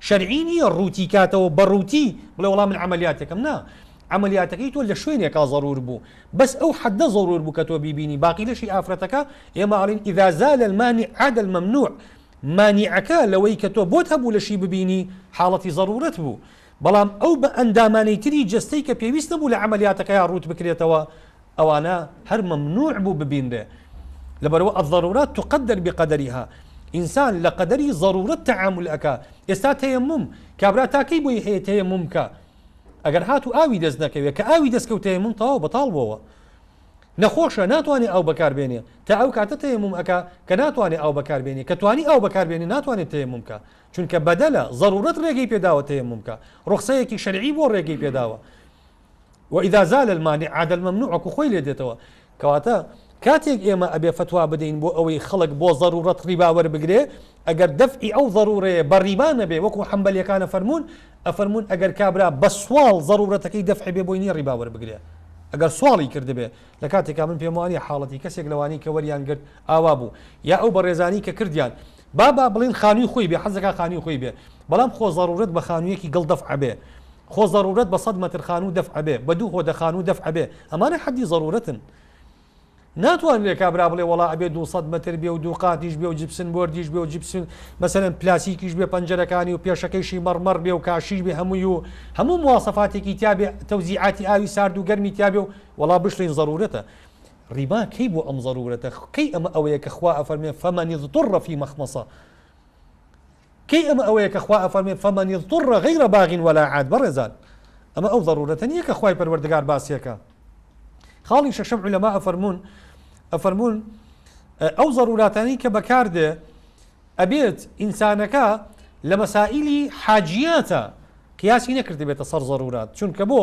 شەرعی نیە ڕووتی کاتەوە بە ڕووتی بڵێ وەڵا من عەمەلیاتێکم نا عەمەلیاتەکەی تۆ لە شوێنێکا زەرور بوو بەس ئەو حەدە زەرور بوو کە تۆ بیبینی باقی لەشی ئافرەتەکە ئێمە ئەڵێن اذا زال المانع عاد الممنوع مانیعەکە لەوەی کە تۆ بۆت هەبوو لەشی ببینی حاڵەتی زەرورت بوو بەڵام ئەو بە ئەندامانەی تری جەستەی کە پێویست نەبوو لە عەمەلیاتەکەیا ڕووت بکرێتەوە ئەوانە هەر مەمنوع بوو ببینرێ لەبەرئەوە الضرورات تقدر بقدرها ئینسان لە قەدەری زەرورەت تەعامول ئەکا ئێستا تەیەموم کابرا تا کەی بۆی هەیە تەیەموم بکا ئەگەر هاتوو ئاوی دەست نەکەوێ کە ئاوی دەست کەوت تەیەموم تەواو بەتاڵ بۆوە نەخۆشە ناتوانێ ئاو بەکار بێنێ تا ئەو کاتە تەیەموم ئەکا کە ناتوانێ ئاو بەکار بێنێ کە توانی ئاو بەکار بێنێ ناتوانێت تەیەموم بکا چونکە بەدەلە زەرورەت ڕێگەی پێداوە تەیەموم بکا ڕوخسەیەکی شەرعی بۆ ڕێگەی پێداوە وإذا زال المانع عاد الممنوع وەکو خۆی لێ دێتەوە کەواتە کاتێک ئێمە ئەبێ فتوا بدەین بۆ ئەوەی خەڵک بۆ ضرورەت ڕیبا وەربگرێ ئەگەر دەفعی ئەو ضرورەیە بە ڕیبا نەبێ وەکو حەنبەلیەکان ئەفەرموون ئەفەرموون ئەگەر کابرا بە سواڵ ضرورەتەکەی دەفع بێ بۆی نییە ڕیبا وەربگرێ ئەگەر سواڵی کردبێ لە کاتێکا من پێم وانە حاڵەتی کەسێک لەوانی کە وەریان گرت ئاوا بوو یا ئەو بەڕێزانی کە کردیان با با بڵێین خانووی خۆی بێ، حەز دەکات خانووی خۆی بێ، بەڵام خۆ زەروورەت بە خانوویەکی گڵ دەفع بێ، خۆ زەروورەت بە سەد مەتر خانوو دەفع بێ، بە دوو هۆدە خانوو دەفع بێ، ئەمانە حەدی زەروورەتن. ناتوانرێ کابرا بڵێ وەڵا ئەبێ دوو سەد مەتر بێ و دوو قاتیش بێ و جپسن بۆردیش بێ و جپسن مەسەلەن پلاسیکیش بێ پەنجەرەکانی و پێشەکەیشی مەڕمەڕ بێ و کاشیش بێ هەمووی و هەموو مواسەفاتێکی تیا بێ، تەوزیعاتی ئاوی سارد و گەرمی تیا بێ و وەڵا بشڵین زەروورەتە. ڕیبا کەی بۆ ئەم زەروورەتە کەی ئەمە ئەوەیە کە خوا ئەفەرمێ فمن اضطر فی مخمصە کەی ئەمە ئەوەیە کە خوا ئەفەرمێ فمن اضطر غیر باغ ولا عاد بەڕێزان ئەمە ئەو زەروورەتە نییە کە خوای پەروەردگار باسیەکە خاڵی شەشەم علەما ئەفەرمونون ئەفەرمونون ئەو زەرووراتانی کە بەکاردێ ئەبێت ئینسانەکە لە مەسائلی حاجیاتە قیاسی نەکرد بێتە سەر زەرورات چونکە بۆ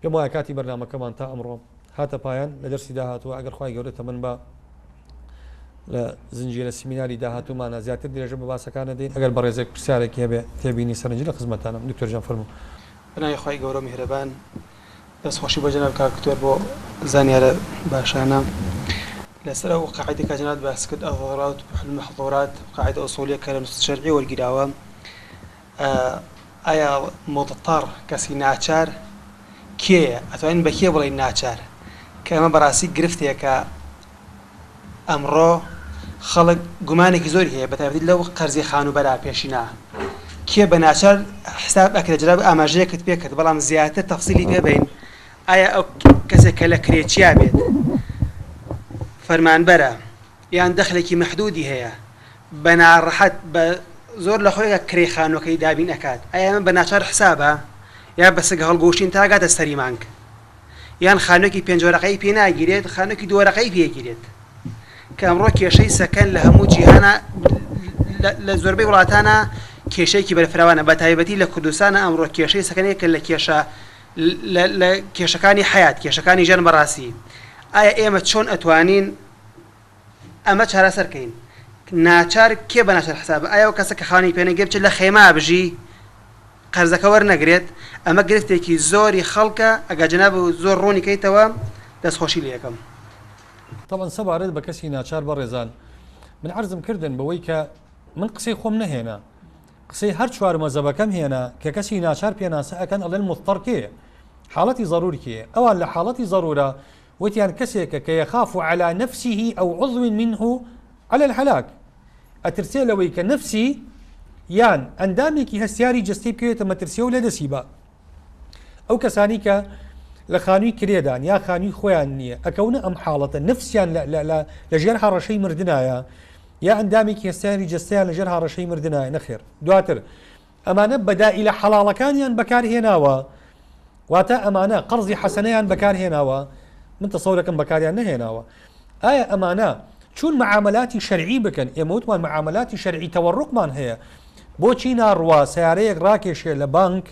پێم وایە کاتی بەرنامەکەمان تا ئەمڕۆ هاتە پایان لە دەرسی داهاتووە ئەگەر خوای گەورە تەمەن با لە زنجیرە سیمیناری داهاتوومانە زیاتر درێژە بە باسەکانە دێن ئەگەر بەڕێزێک پرسیارێکی هەبێ تێبینی سەرنجی لە خزمەتتانم دکتۆر گیان فەرموو. بەناوی خوای گەورەو میهرەبان دەست خۆشی بۆ جەناب کاک دکتۆر بۆ زانیارە باشانە لەسەر ئەو قاعدە کە جەنابت باست کرد الضرورات تبیح المحظورات قاعدە ئوسولیە کە لە نصوص شەرعی وەرگیراوە ئایا مضطر کەسی ناچار کێیە؟ ئەتوانین بە کێ بڵێین ناچار؟ کە ئەمە بەڕاستی گرفتێکە ئەمڕۆ خەڵک گومانێکی زۆری هەیە بە تایبەتی لەو قەرزی خانووبەرە پێشینە کێ بە ناچار حساب ئەکرێ جەناب ئاماژەیەکت پێ کرد بەڵام زیاتر تەفسیلی پێ بەین ئایا ئەو کەسێک کە لە کرێ چیا بێت فەرمانبەرە یان دەخلێکی مەحدودی هەیە بە ناڕەحەت بە زۆر لە خۆیەکە کرێی خانوەکەی دابین ئەکات ئایا ئەمە بە ناچار حسابە یا بە سەگ هەڵگۆشین تا گاتە سەری مانگ یان خانوەکی پێنج وەرەقەی پێ ناگیرێت خانوەکی دوو وەرەقەی پێگیرێت کە ئەمڕۆ کێشەی سەکەن لە هەموو جیهانە لە زۆربەی وڵاتانە کێشەیەکی بەرفراوانە بە تایبەتی لە کوردستانە ئەمڕۆ کێشەی سەکەنەیە کە لە کێشە لە کێشەکانی حیات کێشەکانی ژیان بەڕاستی ئایا ئێمە چۆن ئەتوانین ئەمە چارەسەر کەین ناچار کێ بە ناچار حسابە ئایا و کەسە کە خانی پێنەگێ بچێت لە خێما بژی قەرزەکە وەرنەگرێت ئەمە گرفتێکی زۆری خەڵکە ئەگە جناب و زۆر ڕوونی کەیتەوە دەستخۆشی لێ یەکەم. تەبعەن سەبارەت بە کەسی ناچار بەڕێزان من عەرزم کردن بەوەی کە من قسەی خۆم نەهێنا قسەی هەر چوار مەزەبەکەم هێنا کە کەسی ناچار پێناسە ئەکەن ئەڵێن مضطر کێیە حاڵەتی ضرور کێیە ئەوان لە حاڵەتی ضرورە وتیان کەسێکە کە یەخاف علی نفسه او عضو منه علی الهلاک ئەترسێ لەوەی کە نەفسی یان ئەندامێکی هەستیاری جەستەی بکەوێتە مەترسیە و لەدەستی با ئەو کەسانی کە لە خانووی کرێدان یا خانووی خۆیان نییە ئەکەونە ئەم حاڵەتە نفسیان لە ژێر هەڕەشەی مردایە یا ئەندامێکی هەستیاری جەستیان لەژێر هاڕەشەی مردنایە نەخێر دواتر ئەمانە بەدائیلە حەڵاڵەکانیان بەکارهێناوە، واتە ئەمانە قەرزی حەسەنەیان بەکارهێناوە، من تەسەورەکەم بەکاریان نەهێناوە، ئایا ئەمانە چون معاملاتی شەرعی بکەن ئێمە وتمان معاملاتی شەرعی تەوەڕقمان هەیە بۆچی ناڕوا سیارەیەک ڕاکێشێ لە بانک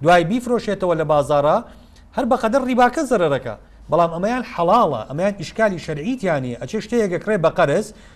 دوای بیفرۆشێتەوە لە بازارە هەر بەقەدەر ڕیباکە زەرەکە بەڵام ئەمەیان حەڵاڵە ئەمەیان ئیشکالی شەرعیتیانی ئەچێ شتەیەگە کڕێ بە قەرز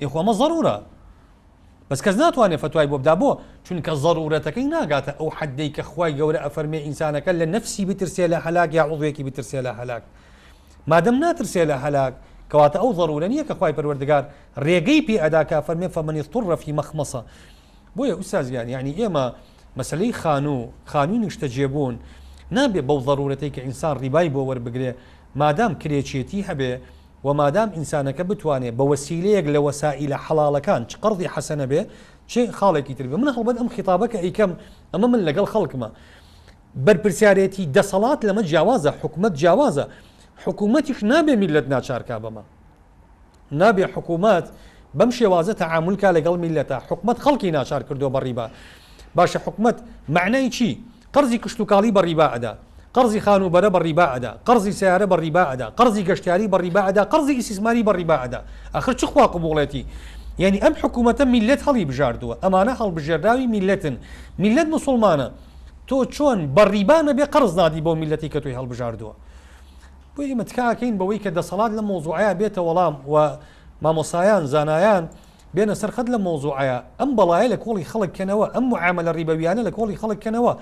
ئێ خۆ ئەمە ضرورە بەس کەس ناتوانێت فتوای بۆ بدا بۆ چونکە ضرورەتەکەی ناگاتە ئەو حدەی کە خوای گەورە ئەفەرمێ ئینسانەکە لە نفسی بترسێ لە هەلاک یا عضوێکی بترسێ لە هەلاک مادەم ناترسێ لە هەلاک کەواتە ئەو ضرورە نییە کە خوای پەروەردگار ڕێگەی پێ ئەدا کە فەرمێ فەمەنی طڕەفی مەخمەسە بۆیە ئوسازیان یعنی ئێمە مەسلەی خانوو خانووی نیشتە جێبوون نابێ بەو ضرورەتی کە ئینسان ڕیبای بۆ وەربگرێ مادام کرێچێتی هەبێ وە مادام ئینسانەکە بتوانێ بە وەسیلەیەک لە وەسائیلە حەڵاڵەکان چ قەڕزی حەسەنە بێ چ خاڵێکی تر بێ من هەڵبەت ئەم خیتابە کە ئەیکەم ئەمە من لەگەڵ خەڵکمە بەرپرسیارێتی دەسەڵات لەمە جیاوازە حکومەت جیاوازە حکوومەتیش نابێ میلەت ناچارکا بەمە نابێ حکوومەت بەم شێوازە تەعاملکە لەگەڵ میلەتە حکومەت خەڵکی ناچار کردو بە ڕیبا باشە حکومەت معنای چی؟ قەرزی کشتوکاڵی بە ڕیبا ئەدا، قەرزی خانووبەرە بە ڕیبا ئەدا، قەرزی سەیارە بە ڕیبا ئەدا، قەرزی گەشتیاری بە ڕیبا ئەدا، قەرزی ئیسیسماری بە ڕیبا ئەدا. ئاخر چ خوا قبووڵێتی؟ یانی ئەم حکوومەتە میللەت هەڵیبژاردووە، ئەمانە هەڵبژێرراوی میللەتن، میللەت موسوڵمانە، تۆ چۆن بە ڕیبا نەبێ قەرز نادی بەو میللەتەی کە تۆی هەڵبژاردووە؟ بۆیە ئێمە تکا ئەکەین بەوەی کە دەسەڵات لەم مەوزووعەیا بێتە وەڵام و مامۆستایان، زانایان، بێنە سەر خەت لەم مەوزوعەیا ئەم بەڵایە لە کۆڵی خەڵک کەنەوە ئەم معامەلە ڕیبەویانە لە کۆڵی خەڵک کەنەوە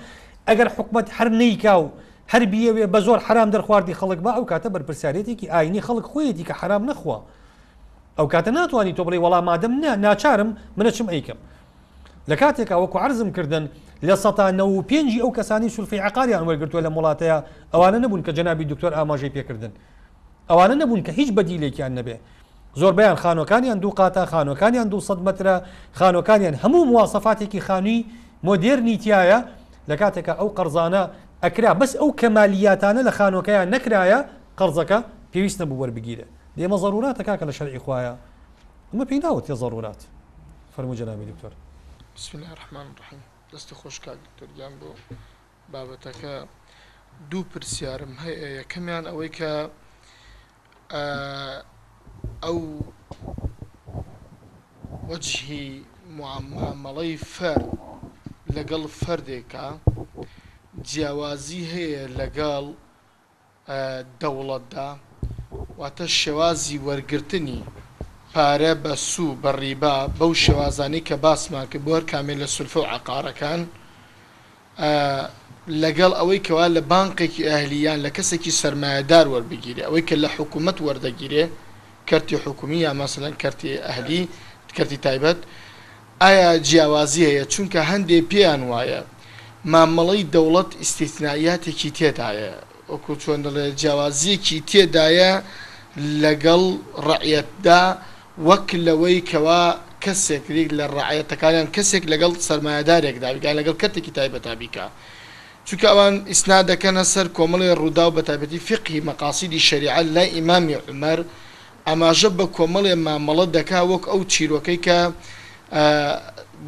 ئەگەر حکومەت هەر نیکا و هەر بیەوێ بە زۆر حرام دەرخواردی خەڵک بە ئەو کاتە بەرپرسیارێتێکی ئاینی خەڵک خۆیەتی کە حرام نەخوا ئەو کاتە ناتوانانی تۆ بڵێ وەڵام مادەم نا ناچارم منە چم ئەیکەم لە کاتێکا وەکو عرزم کردن لە سەتا نە و پێنجی ئەو کەسانی سولفی عقاریان وەرگرتووە لە وڵاتەیە ئەوانە نەبوون کە جەنابی دکتۆر ئاماژەی پێکردن ئەوانە نەبوون کە هیچ بەدیلێکیان نەبێ زۆربەیان خانوەکانیان دوو قاتە، خانوەکانیان دوو سەد مەترە، خانوەکانیان هەموو مواسەفاتێکی خانوی مۆدێرنی تیایە، لە کاتێکا ئەو قەرزانە ئەکرا بەس ئەو کەمالیاتانە لە خانوەکەیان نەکرایە قەرزەکە پێویست نەبوو وەربگیرێ دەی ئەمە زەروراتە کاکە لە شەرعی خوایە ئەمە پێی ناوترێ زەرورات فەرموو جەنابی دکتۆر. بسم اللە الرحمن الرحیم دەستی خۆش کاک دکتۆر گیان بۆ بابەتەکە دوو پرسیارم هەیە یەکەمیان ئەوەی کە ئە و وەجهی موعامەڵەی فەرد لەگەڵ فەردێکا جیاوازی هەیە لەگەڵ دەوڵەتدا واتە شێوازی وەرگرتنی پارە بە سو بە ڕیبا بەو شێوازانەی کە باسمان کرد بۆ هەر کامێ لە سولفە و عەقارەکان ئە لە گەڵ ئەوەی کەوا لە بانقێکی ئەهلی یان لە کەسێکی سەرمایەدار وەربگیرێ ئەوەی کە لە حکوومەت وەردەگیرێ کەرتی حکوومی یا مەسەلەن کەرتی ئەهلی کەرتی تایبەت ئایا جیاوازی هەیە چونکە هەندێ پێیان وایە مامەڵەی دەوڵەت ئیستیسنائیاتێکی تێدایە وەکو چۆن دەڵێ جیاوازیەکی تێدایە لەگەڵ ڕەعیەتدا وەک لەوەی کەوا کەسێک ریک لە ڕەعیەتەکان یان کەسێک لەگەڵ سەرمایەدارێکدا بیت یان لەگەڵ کەرتێکی تایبەتا بیکا چونکە ئەوان ئیسناد دەکەنە سەر کۆمەڵێ ڕووداو بەتایبەتی فیقهی مەقاسیدی شەریعە لای ئیمامی عومەر ئاماژە بە کۆمەڵێ مامەڵە دەکا وەک ئەو چیرۆکەی کە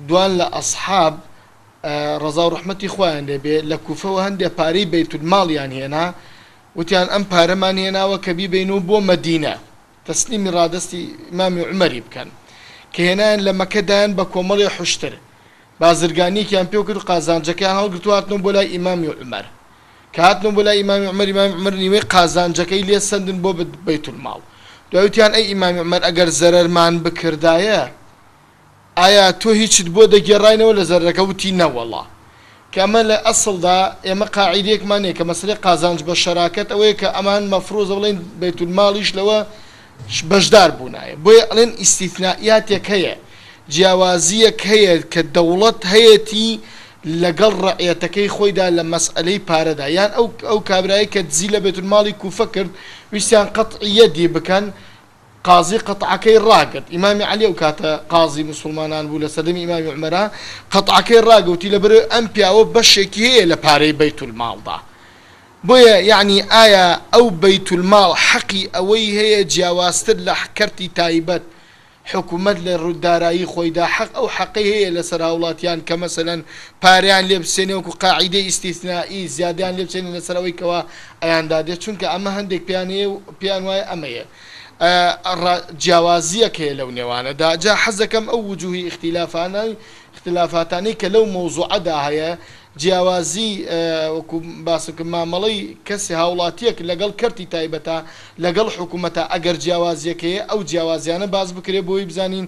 دوان لە ئەسحاب ڕەزا و ڕەحمەتی خوایان لێ بێ لە کوفەوە هەندێ پارەی بەیتولماڵیان هێنا وتیان ئەم پارەمان هێناوە کە بیبەین و بۆ مەدینە تەسلیمی ڕادەستی ئیمامی عومەری بکەن کە هێنایان لە مەکە دایان بە کۆمەڵێ حوشتر بازرگانیەکیان پێ کرد و قازانجەکەیان هەڵگرت و هاتنەوە بۆ لای ئیمامی عومەر کە هاتنەوە بۆ لای ئیمامی عومەر ئیمامی عومەر نیوەی قازانجەکەی لێ سەندن بۆ بەیتولماڵ دوای وتیان ئەی ئیمامی عومەر ئەگەر زەرەرمان بکردایە ئایا تۆ هیچت بۆ دەگێڕاینەوە لە زەردەکە؟ وتی، نەوەڵا. کە ئەمە لە ئەسڵدا ئێمە قاعیدەیەکمان هەیە کە مەسەلەی قازانج بە شەراکەت ئەوەیە کە ئەمان مەفروزە بڵێین بەیت المالیش لەوە بەشدار بوونایە بۆیە ئەڵێن ئیستیثنائیاتێک هەیە جیاوازییەک هەیە کە دەوڵەت هەیەتی لەگەڵ ڕەعیەتەکەی خۆیدا لە مەسەلەی پارەدا یان ئەو ئەو کابرایەی کە دزی لە بەیت المالی کوفە کرد ویستیان قەتعی یەدی بکەن قازی قەتعەکەی ڕاگرت، ئیمامی عەلی ئەو کاتە قازی موسوڵمانان بوو لە سەردەمی ئیمامی عومەرا، قەتعەکەی ڕاگرت وتی لەبەرئەوەی ئەم پیاوە بەشێکی هەیە لە پارەی بەیت الماڵدا بۆیە یەعنی ئایا ئەو بەیت الماڵ حەقی ئەوەی هەیە جیاوازتر لە کەرتی تایبەت حکومەت لە روی دارایی خۆیدا حەق ئەو حەقەی هەیە لەسەر هاوڵاتیان کە مەسەلەن پارەیان لێ بسێنێ وەکو قاعیدەی ئیستیسنائی زیادەیان لێ بسێنێ لەسەر ئەوەی کەوا یان دادێ چونکە ئەمە هەندێک پێیان هەیە و پێیان وایە ئەمەیە ڕا جیاوازیەک هەیە لەو نێوانە دا جا حەزەکەم ئەو وجوهی ئیختیلافانەی ئیختیلافاتانەی کە لەو مەوزوعە دا هەیە جیاوازی وەکو باسم کرد مامەڵەی کەسی هاوڵاتیەک لەگەڵ کەرتی تایبەتە لەگەڵ حکومەتە ئەگەر جیاوازیەک هەیە ئەو جیاوازیانە باس بکرێ بۆی بزانین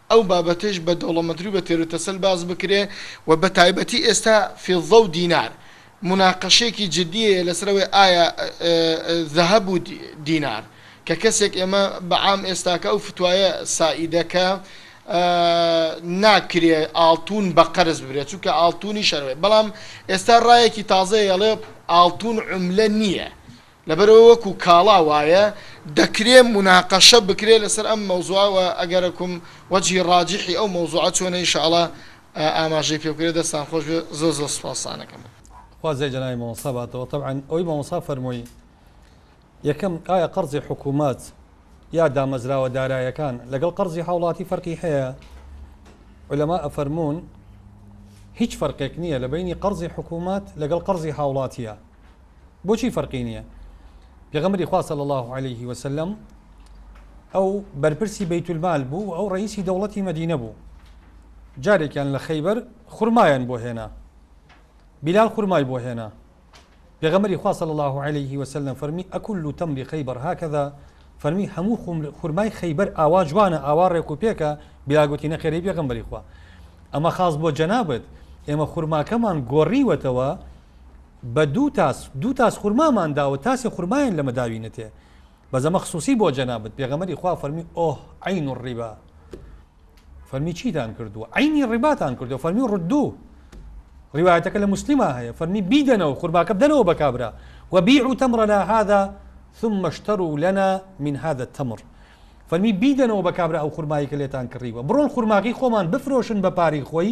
ئەو بابەتەیش بە دەوڵەمەندتر و بە تێروتەسەل باس بکرێ و بە تایبەتی ئێستا فیضە و دینار موناقەشەیەکی جدی هەیە لەسەر ئەوەی ئایا ذهب و دینار کە کەسێک ئێمە بە عام ئێستاکە ئەو فتوایە سائیدە کە ناکرێ ئاڵتوون بە قەرز ببرێ چونکە ئاڵتوونیش هەر وایە بەڵام ئێستا ڕایەکی تازەیە ئەڵێ ئاڵتوون عوملە نییە لەبەرئەوە وەکو کاڵا وایە دەکرێ موناقەشە بکرێ لەسەر ئەم مەوزوعە وە ئەگەرەکم وەجهی ڕاجحی ئەو مەوزوعە چۆنە ان شاءاللە ئاماژەی پێ بکرێ دەستان خۆش بێ زۆر زۆر سوپاستانەکەم. خوازیە جەنابی مامۆستا باتەوە تەبعەن ئەوەی مامۆستا فەرمووی یەکەم ئایا قەرزی حکومەت یا دامەزراوە دارایەکان لەگەڵ قەرزی هاوڵاتی فەرقی هەیە علەما ئەفەرموون هیچ فەرقێک نییە لە بینی قەرزی حکومەت لەگەڵ قەرزی هاوڵاتیە بۆچی فەرقی نیە پێغەمبەری خوا صلی اللە علیه وسلم ئەو بەرپرسی بیت المال بوو و ئەو ڕئیسی دەوڵەتی مەدینە بوو جارێکیان لە خەیبەر خورمایان بۆ هێنا بلال خورمای بۆ هێنا پێغەمەری خوا صلی الله عليه وسلم فەرمی ئەکل و تەمری خەیبەر هاکەدا فەرمی هەموو خورمای خەیبەر ئاوا جوانە ئاوا ڕێک و پێکە بیاگوتی نەخێری پێغەمبەری خوا ئەمە خاص بۆ جەنابێت ئێمە خورماکەمان گۆڕیوەتەوە بە دوو تاس دوو تاس خورمامان داوە تاسێ خورمایان لەمە داوینەتێ بەس ئەمە خسوسی بۆ جەنابت پێغەمبەری خوا فەرمی ئۆه عین الربا فەرمی چیتان کردووە عینی ڕیباتان کردو فەرمی ڕدوو ڕیوایەتەکە لە مسلما هەیە فەرمی بیدەنەوە خورماکە بدەنەوە بە کابرا و بیع و تەمڕەنا هذا ثم اشتروا لنا من هذا التمر فەرمی بیدەنەوە بە کابرا ئەو خورمایی کە لێتان کڕیوە بڕۆن خورماکەی خۆمان بفرۆشن بە پارەی خۆی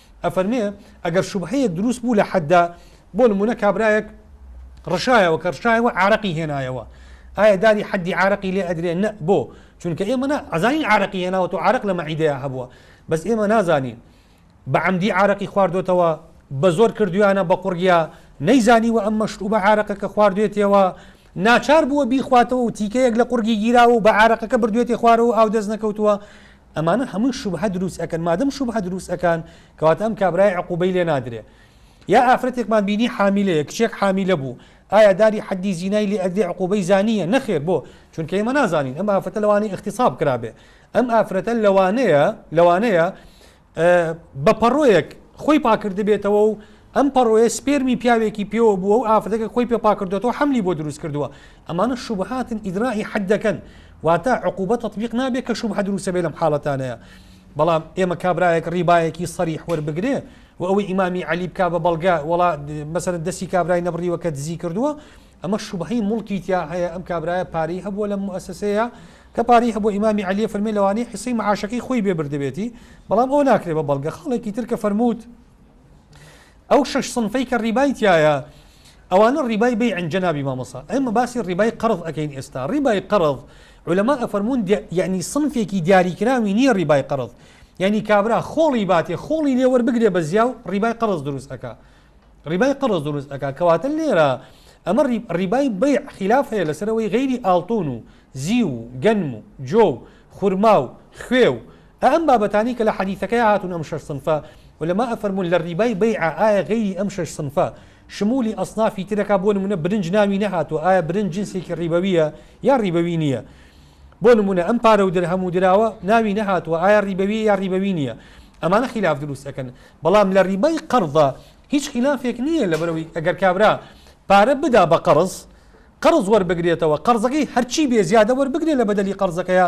ئەفەرمێ ئەگەر شوبهەیەک دروست بوو لە حەددا، بۆ نموونە کابرایەک ڕشایەوە، کە ڕشایەوە عارەقی هێنایەوە، ئایا داری حەددی عارەقی لێ ئەدرێ؟ نە، بۆ؟ چونکە ئێمە نا، ئەزانین عارەقی هێناوەتە و عارەق لە مەعیدەیا هەبووە، بەس ئێمە نازانین بە عەمدی عارەقی خواردۆتەوە، بە زۆر کردوویانە بە قوڕگیا، نەیزانیوە ئەم مەشرووبە عارەقەکە خواردوێتێەوە، ناچار بووە بیخواتەوە و تیکەیەک لە قوڕگی گیراوە و بە عارەقەکە بردوێتێ خوارەوە و ئاو دەست نەکەوتووە، ئەمانە هەمووی شوبهە دروست ئەکەن مادەم شوبهە دروست ئەکان کەواتە ئەم کابرایە عقوبەی لێ نادرێ یا ئافرەتێکمان بینی حامیلەیە کچێک حامیلە بوو ئایا داری حەدی زینای لێ ئەدرێ عقوبەی زانیە نەخێر بۆ چونکە ئێمە نازانین ئەم ئافرەتە لەوانەیە اختصاب کرابێ ئەم ئافرەتە لەوانەیە لەوانەیە بە پەڕۆیەک خۆی پاکردبێتەوە و ئەم پەڕۆیە سپێرمی پیاوێکی پێوە بووە و ئافرەتەکە خۆی پێ پاکردۆتەوە حەملی بۆ دروست کردووە ئەمانە شوبهاتن ئیدرائی حەد دەکەن واتە عقوبە تەطبیق نابێت کە شوبهە دروستە بێ لەم حاڵەتانەیە بەڵام ئێمە کابرایەک ڕیبایەکی سەریح وەربگرێ و ئەوەی ئیمامی علی بک بە بەڵگە وڵا مەسەر دەستی کابرای نەبڕیوە کە دزی کردووە ئەمە شوبهەی مڵکی تیا هەیە ئەم کابرایە پارەی هەبووە لە موسسەیە کە پارەی هەبوو ئیمامی علیە فەرمی لەوانەیە حسی معاشەکەی خۆی بێ بردبێتی بەڵام ئەو ناکرێ بە بەڵگە خاڵێکی ترکە فەرمووت ئەو شەش سنفەی کە ڕیبای تایە ئەوانە ڕیبای بی ئەنجەنابی مامۆسا ئەمە باسی ڕیبای قەرض ئەەکەین ئێستا ڕیبای قەرض علەما ئەفەرمونون یعنی سنفێکی دیاریکراوی نییە ڕیبای قەرض یعنی کابرا خۆڵی باتێ خۆڵی لێوەەر بگرێ بە زیا و ڕیبای قەرز دروست ئەکا ڕیبای قەرز دروست ئەکا کەواتە لێرە ئەمە ڕیبای بی خلاف هەیە لەسەرەوەی غیری ئاڵتون و زی و گەنم و جۆ و خورما و خوێ و ئا ئەم بابەتانەی کە لە حەدیسەکەیا هاتوون ئەم شەش صنفە، علماء فەرموون لە ڕیبای بەیعە، ئایا غەیری ئەم شەش صنفە شمولی ئەصنافی ترەکا بۆ نموونە برنج ناوی نەهاتووە ئایا برنج جنسێکی ڕیبەویە یا ڕیبەوی نییە؟ بۆ نموونە ئەم پارە و درهەم و دراوە ناوی نەهاتووە ئایا ڕیبەویە یا ڕیبەوی نییە؟ ئەمانە خیلاف دروست ئەکەن بەڵام لە ڕیبای قەرضا هیچ خیلافێک نییە لەبەرئەوەی ئەگەر کابرا پارە بدا بە قەرز قەرز وەربگرێتەوە قەرزەکەی هەرچی بێ زیادە وەربگرێ لە بەدەلی قەرزەکەیا